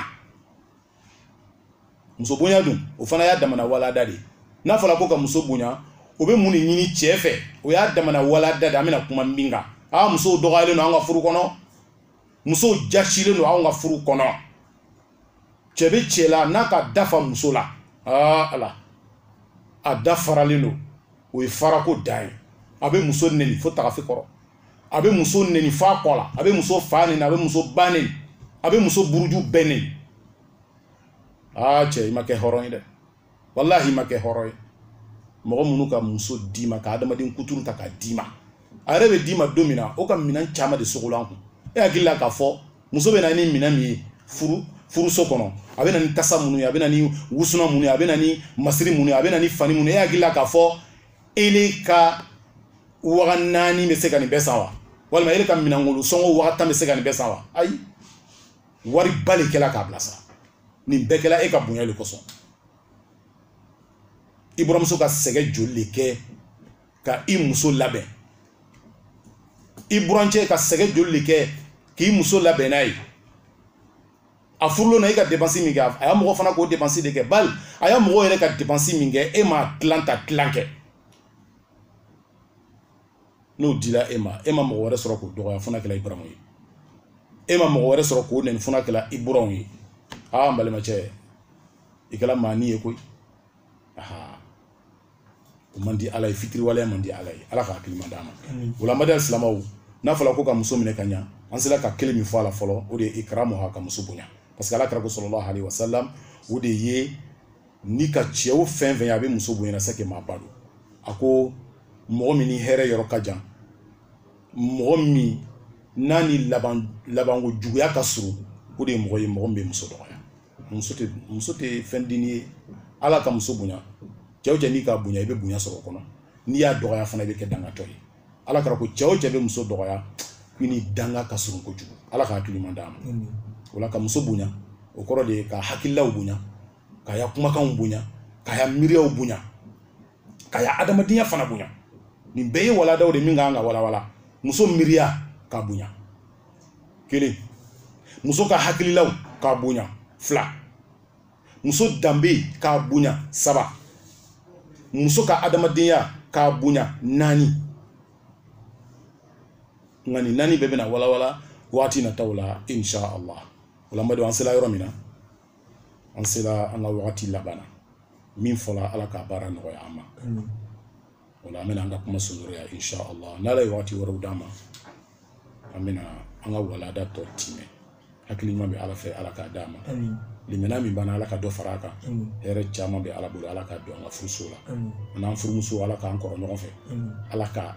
muso bonya dun o fana y'a damana walada de ye n'a fɔra ko ka muso bonya o bɛ mun de ɲini cɛ fɛ o y'a damana walada de ye an bɛna kuma min kan aa musow dɔgɔyalen don an ka furu kɔnɔ musow jasilen don anw ka furu kɔnɔ cɛ bɛ cɛ la n'a k'a da fara muso la aa ala a da faralen don o ye farako dan ye a bɛ muso neni fo tagafe kɔrɔ a bɛ muso neni fo a kɔ la a bɛ muso fa neni a bɛ muso ba neni a bɛ muso buruju bɛɛ neni aa cɛ i ma kɛ hɔrɔn ye dɛ walahi i ma kɛ hɔrɔn ye mɔgɔ minnu ka muso d'i ma ka adamaden kuturu ta k'a d'i ma a yɛrɛ bɛ d'i ma don min na o ka minɛn caman de sogolon a kun e hakili la k'a fɔ muso bɛ na ni minɛn min ye furu furuso kɔnɔ a bɛ na ni tasa minnu ye a bɛ na ni wusunan minnu ye a bɛ na ni masiri minnu ye a bɛ na ni fani minnu ye e hakili la k'a fɔ ele ka waga naani bɛ se ka nin bɛɛ san wa walima ele ka minɛnkolo sɔngɔ waga tan bɛ se ka nin bɛɛ san wa ayi wariba de kɛla k'a bilasira nin bɛɛ kɛla e ka bonya de kosɔn i buramuso ka sɛgɛ joli de kɛ ka i muso labɛn i burancɛ ka sɛgɛ joli de kɛ k'i muso labɛn n'a ye a furulon na e ka depansi min kɛ a ya mɔgɔ fana k'o depansi de kɛ bali a ya mɔgɔ yɛrɛ ka depansi min kɛ e m'a tilan ta tilan kɛ n'o dira e ma e ma mɔgɔ wɛrɛ sɔrɔ k'o dɔgɔya fo n'a kɛla i buranw ye e ma mɔgɔ wɛrɛ sɔrɔ k'o nɛni fo n'a kɛla i buranw ye aa n balimacɛ i kɛla maani ye koyi aha o man di ala ye fitiriwaleya man di ala ye ala ka hakili ɲuman d'an ma o la badenya silamaw n'a fɔla ko ka muso minɛ ka ɲa an sera ka kelen min fɔ a la fɔlɔ o de ye ikramuha ka muso bonya parce que ala kira ko salalahu alaihi wasalam o de ye n'i ka cɛ o fɛn fɛn ye a bɛ muso bonyana sake maa ba don a ko mɔgɔ min ni hɛrɛ yɔrɔ ka jan mɔgɔ min n'a ni laban labanko juguya ka surun o de ye mɔgɔ ye mɔgɔ min bɛ muso dɔgɔya muso tɛ muso tɛ fɛn dennin ye ala ka muso bonya cɛ o cɛ n'i k'a bonya i bɛ bonya sɔrɔ o kɔnɔ n'i y'a dɔgɔya fana i bɛ kɛ dangatɔ ye ala kira ko cɛ o cɛ bɛ muso dɔgɔya i ni danga ka surun kojugu ala ka hakili ɲuman d'an ma o la ka muso bonya o kɔrɔ de ye ka hakililaw bonya k'a ya kumakanw bonya k'a ya miiriyaw bonya k'a ya adamadenya fana bonya nin bɛɛ ye waladaw de min ka kan ka walawala muso miiriya k'a bonya kelen muso ka hakililaw k'a bonya fila muso danbe k'a bonya saba muso ka adamadenya k'a bonya naani nka nin naani bɛɛ bɛna walawala waati nataw la insha allah o la n b'a dɔn an sela yɔrɔ min na an sera an ka wagati laban na min fɔla ala ka baara nɔgɔya an ma o la an bɛna an ka kuma surunya insha allah n'ala ye wagati wɛrɛw d'an ma an bɛna an ka walada tɔ timɛ hakili ɲuman bɛ ala fɛ ala k'a d'an ma limaniya min b'an na ala ka dɔ fara a kan hɛrɛ caman bɛ ala bolo ala k'a don an ka furuso la an n'an furumuso ala k'an kɔrɔ ɲɔgɔn fɛ ala ka